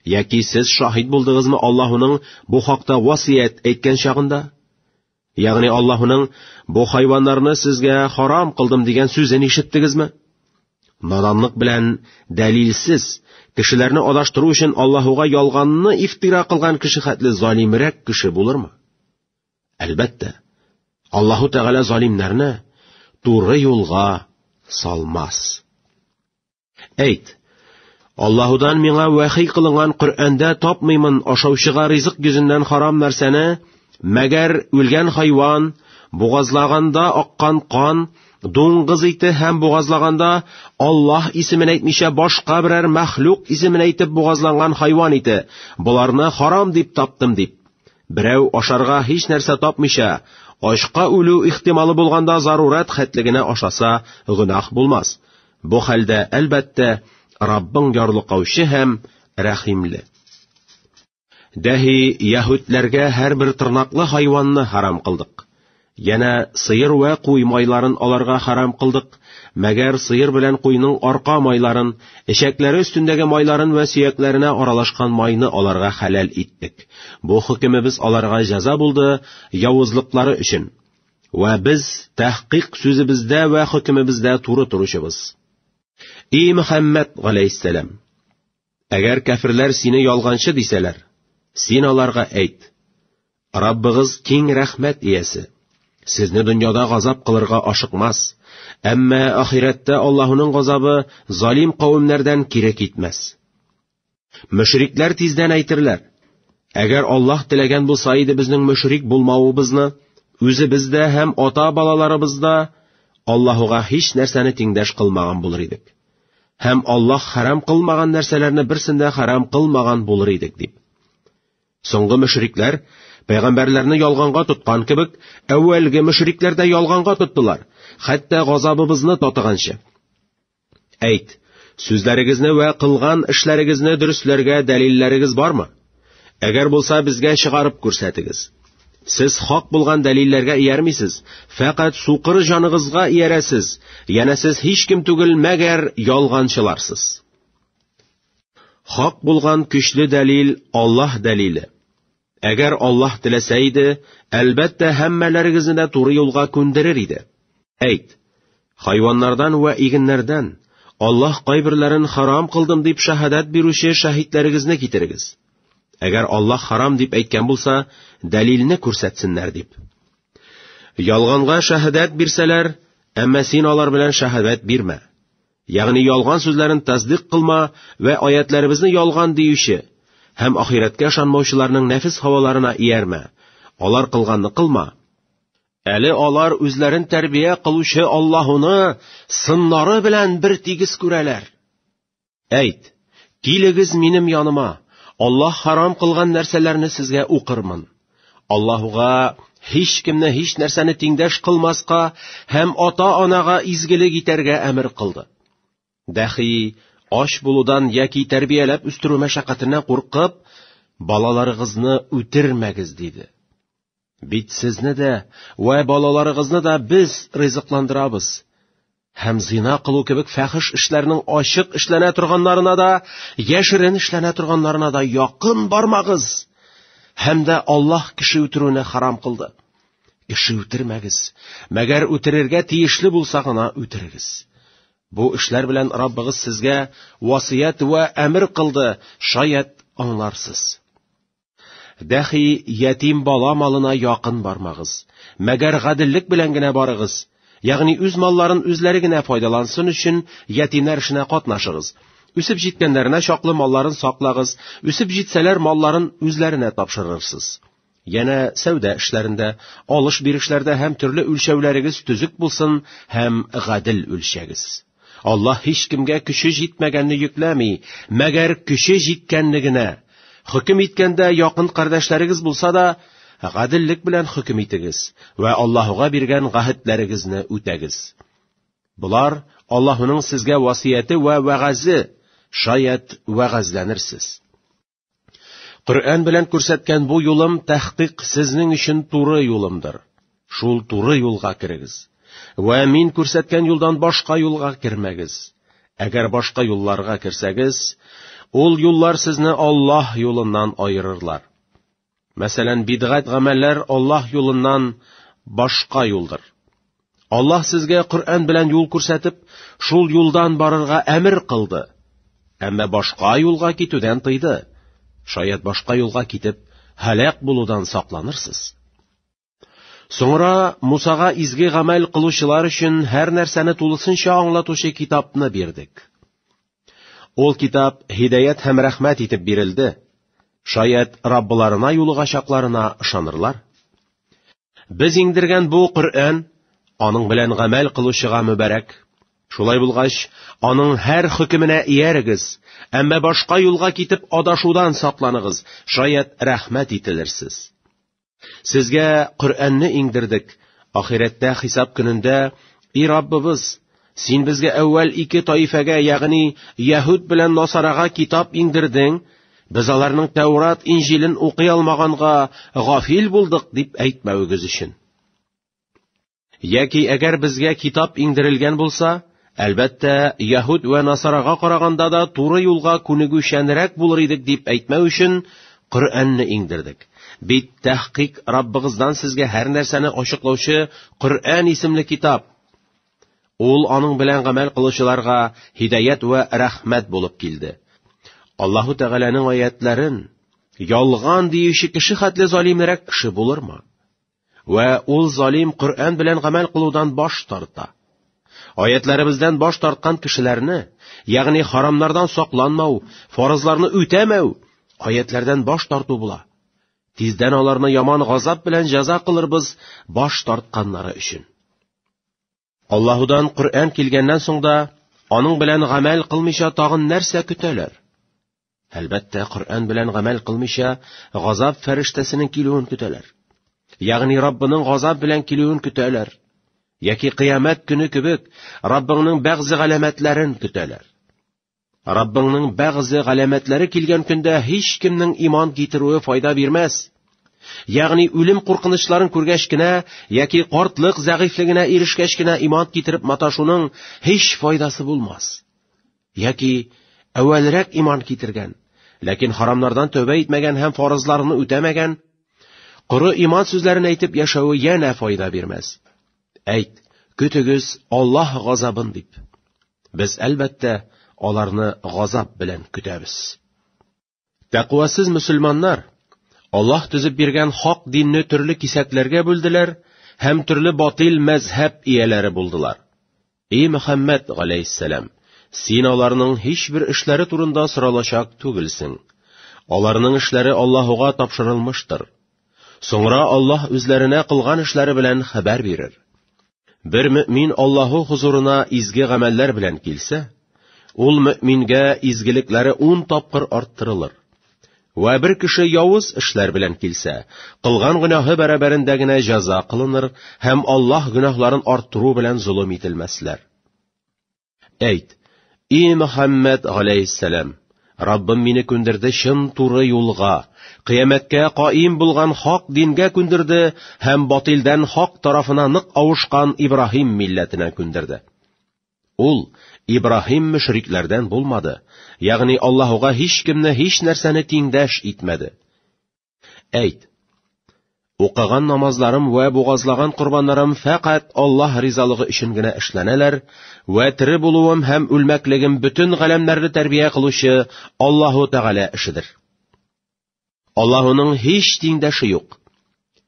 Яки сез шаһит булдыгызмы Аллаһуның бу хакта васыять әйткән чагында? Ягъни Аллаһуның бу хайваннарны сезгә харам кылдым дигән сүзен ишеттегезме? Наданлык белән дәлилсез кешеләрне адаштыру өчен Аллаһуга ялганны ифтира кылган кеше хәтле залимрәк кеше булырмы? Әлбәттә, Аллаһу Тәгалә залимнәрне туры юлга салмас. Әйт, Аллаһудан миңа вәхи кылынган Коръәндә тапмыймын ашаучыга ризык йөзеннән харам нәрсәне, мәгәр үлгән хайван, бугазлаганда аккан кан, дуңгыз ите һәм бугазлаганда Аллаһ исемен әйтмичә башка берәр мәхлук исемен әйтеп бугазланган хайван ите, боларны харам дип таптым дип. Берәү ашарга һич нәрсә тапмыйча, ачка үлү ихтималы булганда зарурат хәтлегенә ашаса, гөнаһ булмас. Бу хәлдә, әлбәттә, Раббың ярлыкаучы һәм рәхимле. Дәһи яһүдләргә һәрбер тырнаклы хайванны харам кылдык. Янә сыер вә куй майларын аларга харам кылдык, мәгәр сыер белән куйның арка майларын, эчәкләре өстендәге майларын вә сөякләренә аралашкан майны аларга хәләл иттек. Бу хөкемебез аларга җәза булды, явызлыклары өчен. Вә без тәхкыйк сүзебездә вә хөкемебездә туры торучыбыз. И Мөхәммәд галәйһиссәлам, әгәр кәфирләр сине ялганчы дисәләр, син аларга әйт: Раббыгыз киң рәхмәт иясе. Сезне дөньяда газап кылырга ашыкмас, әмма ахирәттә Аллаһуның газабы залим кавемнәрдән кире китмәс. Мөшрикләр тиздән әйтерләр, әгәр Аллаһ теләгән булса иде безнең мөшрик булмавыбызны, үзебез дә һәм ата-балаларыбыз да Аллаһуга һич нәрсәне тиңдәш кылмаган булыр идек. Һәм Аллаһ харам кылмаган нәрсәләрне берсен дә харам кылмаган булыр идек дип. Соңгы мөшрикләр Пәйгамбәрләрне ялганга тоткан кебек, әүвәлге мөшрикләр дә ялганга тоттылар, хәтта газабыбызны татыганчы. Әйт, сүзләрегезне вә кылган эшләрегезне дөресләргә дәлилләрегез бармы? Әгәр булса, безгә чыгарып күрсәтегез. Сез хак булган дәлилләргә иярмисез, фәкать сукыр җаныгызга иярәсез, яна сез һич кем түгел, мәгәр ялганчыларсыз. Хак булган көчле дәлил Аллаһ дәлиле. Әгәр Аллаһ теләсә иде, әлбәттә, һәммәләрегезне дә туры юлга күндерер иде. Әйт, хайваннардан вә игеннәрдән Аллаһ кайберләрен харам кылдым дип шаһадат бирүче шаһитләрегезне китерегез. Әгәр Аллаһ харам дип әйткән булса, дәлилне күрсәтсеннәр дип. Ялганга шаһадат бирсәләр, әмма син алар белән шаһадат бирмә. Ягъни ялган сүзләрен тасдыйк кылма вә аятларыбызны ялган диюче һәм ахирәткә ышанмаучыларның нәфес һаваларына иярмә. Алар кылганны кылма. Әле алар үзләрен тәрбия кылучы Аллаһуны сыннары белән бер тигез күрәләр. Әйт, килегез минем яныма, Аллаһ харам кылган нәрсәләрне сезгә укырмын. Аллаһуга һич кемне һич нәрсәне тиңдәш кылмаска һәм ата-анага изгелек итәргә әмер кылды. Дәхи, ач булудан яки тәрбияләп үстерү мәшәкатеннән куркып, балаларыгызны үтермәгез диде. Бит сезне дә вә балаларыгызны да без ризыкландырабыз. һәм зина кылу кебек фәхеш эшләрнең ачык эшләнә торганнарына да, яшерен эшләнә торганнарына да якын бармагыз. Һәм дә Аллаһ кеше үтерүне харам кылды. Кеше үтермәгез, мәгәр үтерергә тиешле булса гына үтерегез. Бу эшләр белән Раббыгыз сезгә васыять вә әмер кылды, шаят аңларсыз. Дәхи, ятим бала малына якын бармагыз. Мәгәр гаделлек белән генә барыгыз. Ягъни үз малларын үзләре генә файдалансын өчен ятимнәр эшенә катнашыгыз. Үсеп җиткәннәренә чаклы малларын саклагыз, үсеп җитсәләр малларын үзләренә тапшырырсыз. Янә сәүдә эшләрендә, алыш-бирешләрдә һәм төрле үлчәүләрегез төзек булсын һәм гадел үлчәгез. Аллаһ һичкемгә көче җитмәгәнне йөкләми, мәгәр көче җиткәнне генә. Хөкем иткәндә якын кардәшләрегез булса да, гаделлек белән хөкем итегез вә Аллаһуга биргән гәһетләрегезне үтәгез. Болар Аллаһуның сезгә васыяте вә вәгазе, шаят вәгазьләнерсез. Коръән белән күрсәткән бу юлым тәхкыйк сезнең өчен туры юлымдыр. Шул туры юлга керегез. Вә мин күрсәткән юлдан башка юлга кермәгез. Әгәр башка юлларга керсәгез, ул юллар сезне Аллаһ юлыннан аерырлар. Мәсәлән, бидгать гамәлләр Аллаһ юлыннан башка юлдыр. Аллаһ сезгә Коръән белән юл күрсәтеп, шул юлдан барырга әмер кылды. Әмма башка юлга китүдән тыйды. Шаят башка юлга китеп, һәлак булудан сакланырсыз. Соңра Мусага изге гамәл кылучылар өчен һәр нәрсәне тулысынча аңлатучы китапны бирдек. Ул китап һидәят һәм рәхмәт итеп бирелде. Шаят Раббыларына юлыгачакларына ышанырлар. Без иңдергән бу Коръән аның белән гамәл кылучыга мөбарәк. Шулай булгач, аның һәр хөкеменә иярегез, әмма башка юлга китеп адашудан сакланыгыз, шаят рәхмәт ителерсез. Сезгә Коръәнне иңдердек, ахирәттә хисап көнендә, и Раббыбыз, син безгә әүвәл ике таифәгә, ягъни яһүд белән насарага китап иңдердең, без аларның Тәүрат Инҗилен укый алмаганга гафил булдык дип әйтмәвегез өчен. Яки әгәр безгә китап иңдерелгән булса, әлбәттә, яһүд вә насарага караганда да туры юлга күнегүчәнрәк булыр идек дип әйтмәү өчен Коръәнне иңдердек. Бит тәхкыйк Раббыгыздан сезгә һәр нәрсәне ачыклаучы Коръән исемле китап. Ул аның белән гамәл кылучыларга һидаят вә рәхмәт булып килде. Аллаһу Тәгаләнең аятларын ялган диюче кеше хәтле залимрәк кеше булырмы? Вә ул залим Коръән белән гамәл кылудан баш тарта. Аятларыбыздан баш тарткан кешеләрне, ягъни харамнардан сакланмау, фарызларны үтәмәү, аятлардан баш тарту була. Тиздән аларны яман газап белән җәза кылырбыз баш тартканнары өчен. Аллаһудан Коръән килгәннән соң да аның белән гамәл кылмыйча тагын нәрсә көтәләр? Әлбәттә, Коръән белән гамәл кылмыйча газап фәрештәсенең килүен көтәләр. Ягъни Раббының газап белән килүен көтәләр. Яки кыямәт көне кебек Раббыңның бәгъзе галәмәтләрен көтәләр. Раббыңның бәгъзе галәмәтләре килгән көндә һич кемнең иман китерүе файда бирмәс. Ягъни үлем куркынычларын күргәч кенә яки картлык зәгыйфлегенә ирешкәч кенә иман китереп маташуның һич файдасы булмас. Яки әвәлрәк иман китергән, ләкин харамнардан тәүбә итмәгән һәм фарызларны үтәмәгән, коры иман сүзләрен әйтеп яшәве янә файда бирмәс. Әйт, көтегез Аллаһ газабын дип. Без, әлбәттә, аларны газап белән көтәбез. Тәкъвасыз мөселманнар Аллаһ төзеп биргән хак динне төрле кисәкләргә бүлделәр һәм төрле батил мәзһәб ияләре булдылар. И Мөхәммәд галәйһиссәлам, син аларның һичбер эшләре турында соралачак түгелсең. Аларның эшләре Аллаһуга тапшырылмыштыр. Соңра Аллаһ үзләренә кылган эшләре белән хәбәр бирер. Бер мөмин Аллаһу хозурына изге гамәлләр белән килсә, ул мөмингә изгелекләре ун тапкыр арттырылыр. Вә бер кеше явыз эшләр белән килсә, кылган гөнаһы бәрабәрендә генә җәза кылыныр һәм Аллаһ гөнаһларын арттыру белән золым ителмәсләр. Әйт, и Мөхәммәд галәйһиссәлам, Раббым мине күндерде чын туры юлга, кыямәткә каим булган хак дингә күндерде һәм батилдән хак тарафына нык авышкан Ибраһим милләтенә күндерде. Ул Ибраһим мөшрикләрдән булмады, ягъни Аллаһуга һичкемне һичнәрсәне тиңдәш итмәде. Әйт, Укыган намазларым вә бугазлаган корбаннарым фәкать Аллаһ ризалыгы өчен генә эшләнәләр, вә тере булуым һәм үлмәклегем бөтен галәмнәрне тәрбия кылучы Аллаһу Тәгалә эшедер. Аллаһуның һич тиңдәше юк.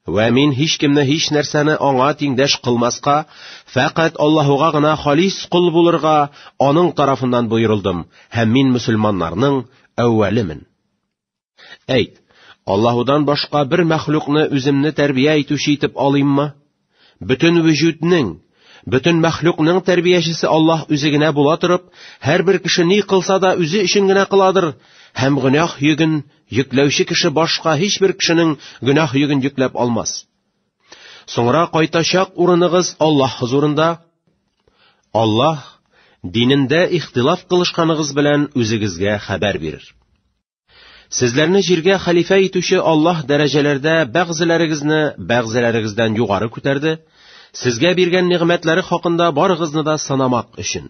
Вә мин һич кемне һич нәрсәне аңа тиңдәш кылмаска, фәкать Аллаһуга гына халис кул булырга аның тарафыннан боерылдым, һәм мин мөселманнарның әүвәлемен. Әйт, Аллаһудан башка бер мәхлукны үземне тәрбия итүче итеп алыйммы? Бөтен вөҗүднең, бөтен мәхлукның тәрбиячесе Аллаһ үзе генә була торып, һәрбер кеше ни кылса да үзе өчен генә кыладыр, һәм гөнаһ йөген йөкләүче кеше башка һичбер кешенең гөнаһ йөген йөкләп алмас. Соңра кайтачак урыныгыз Аллаһ хозурында. Аллаһ динендә ихтилаф кылышканыгыз белән үзегезгә хәбәр бирер. Сезләрне җиргә хәлифә итүче Аллаһ дәрәҗәләрдә бәгъзеләрегезне бәгъзеләрегездән югары күтәрде, сезгә биргән нигъмәтләре хакында барыгызны да санамак өчен.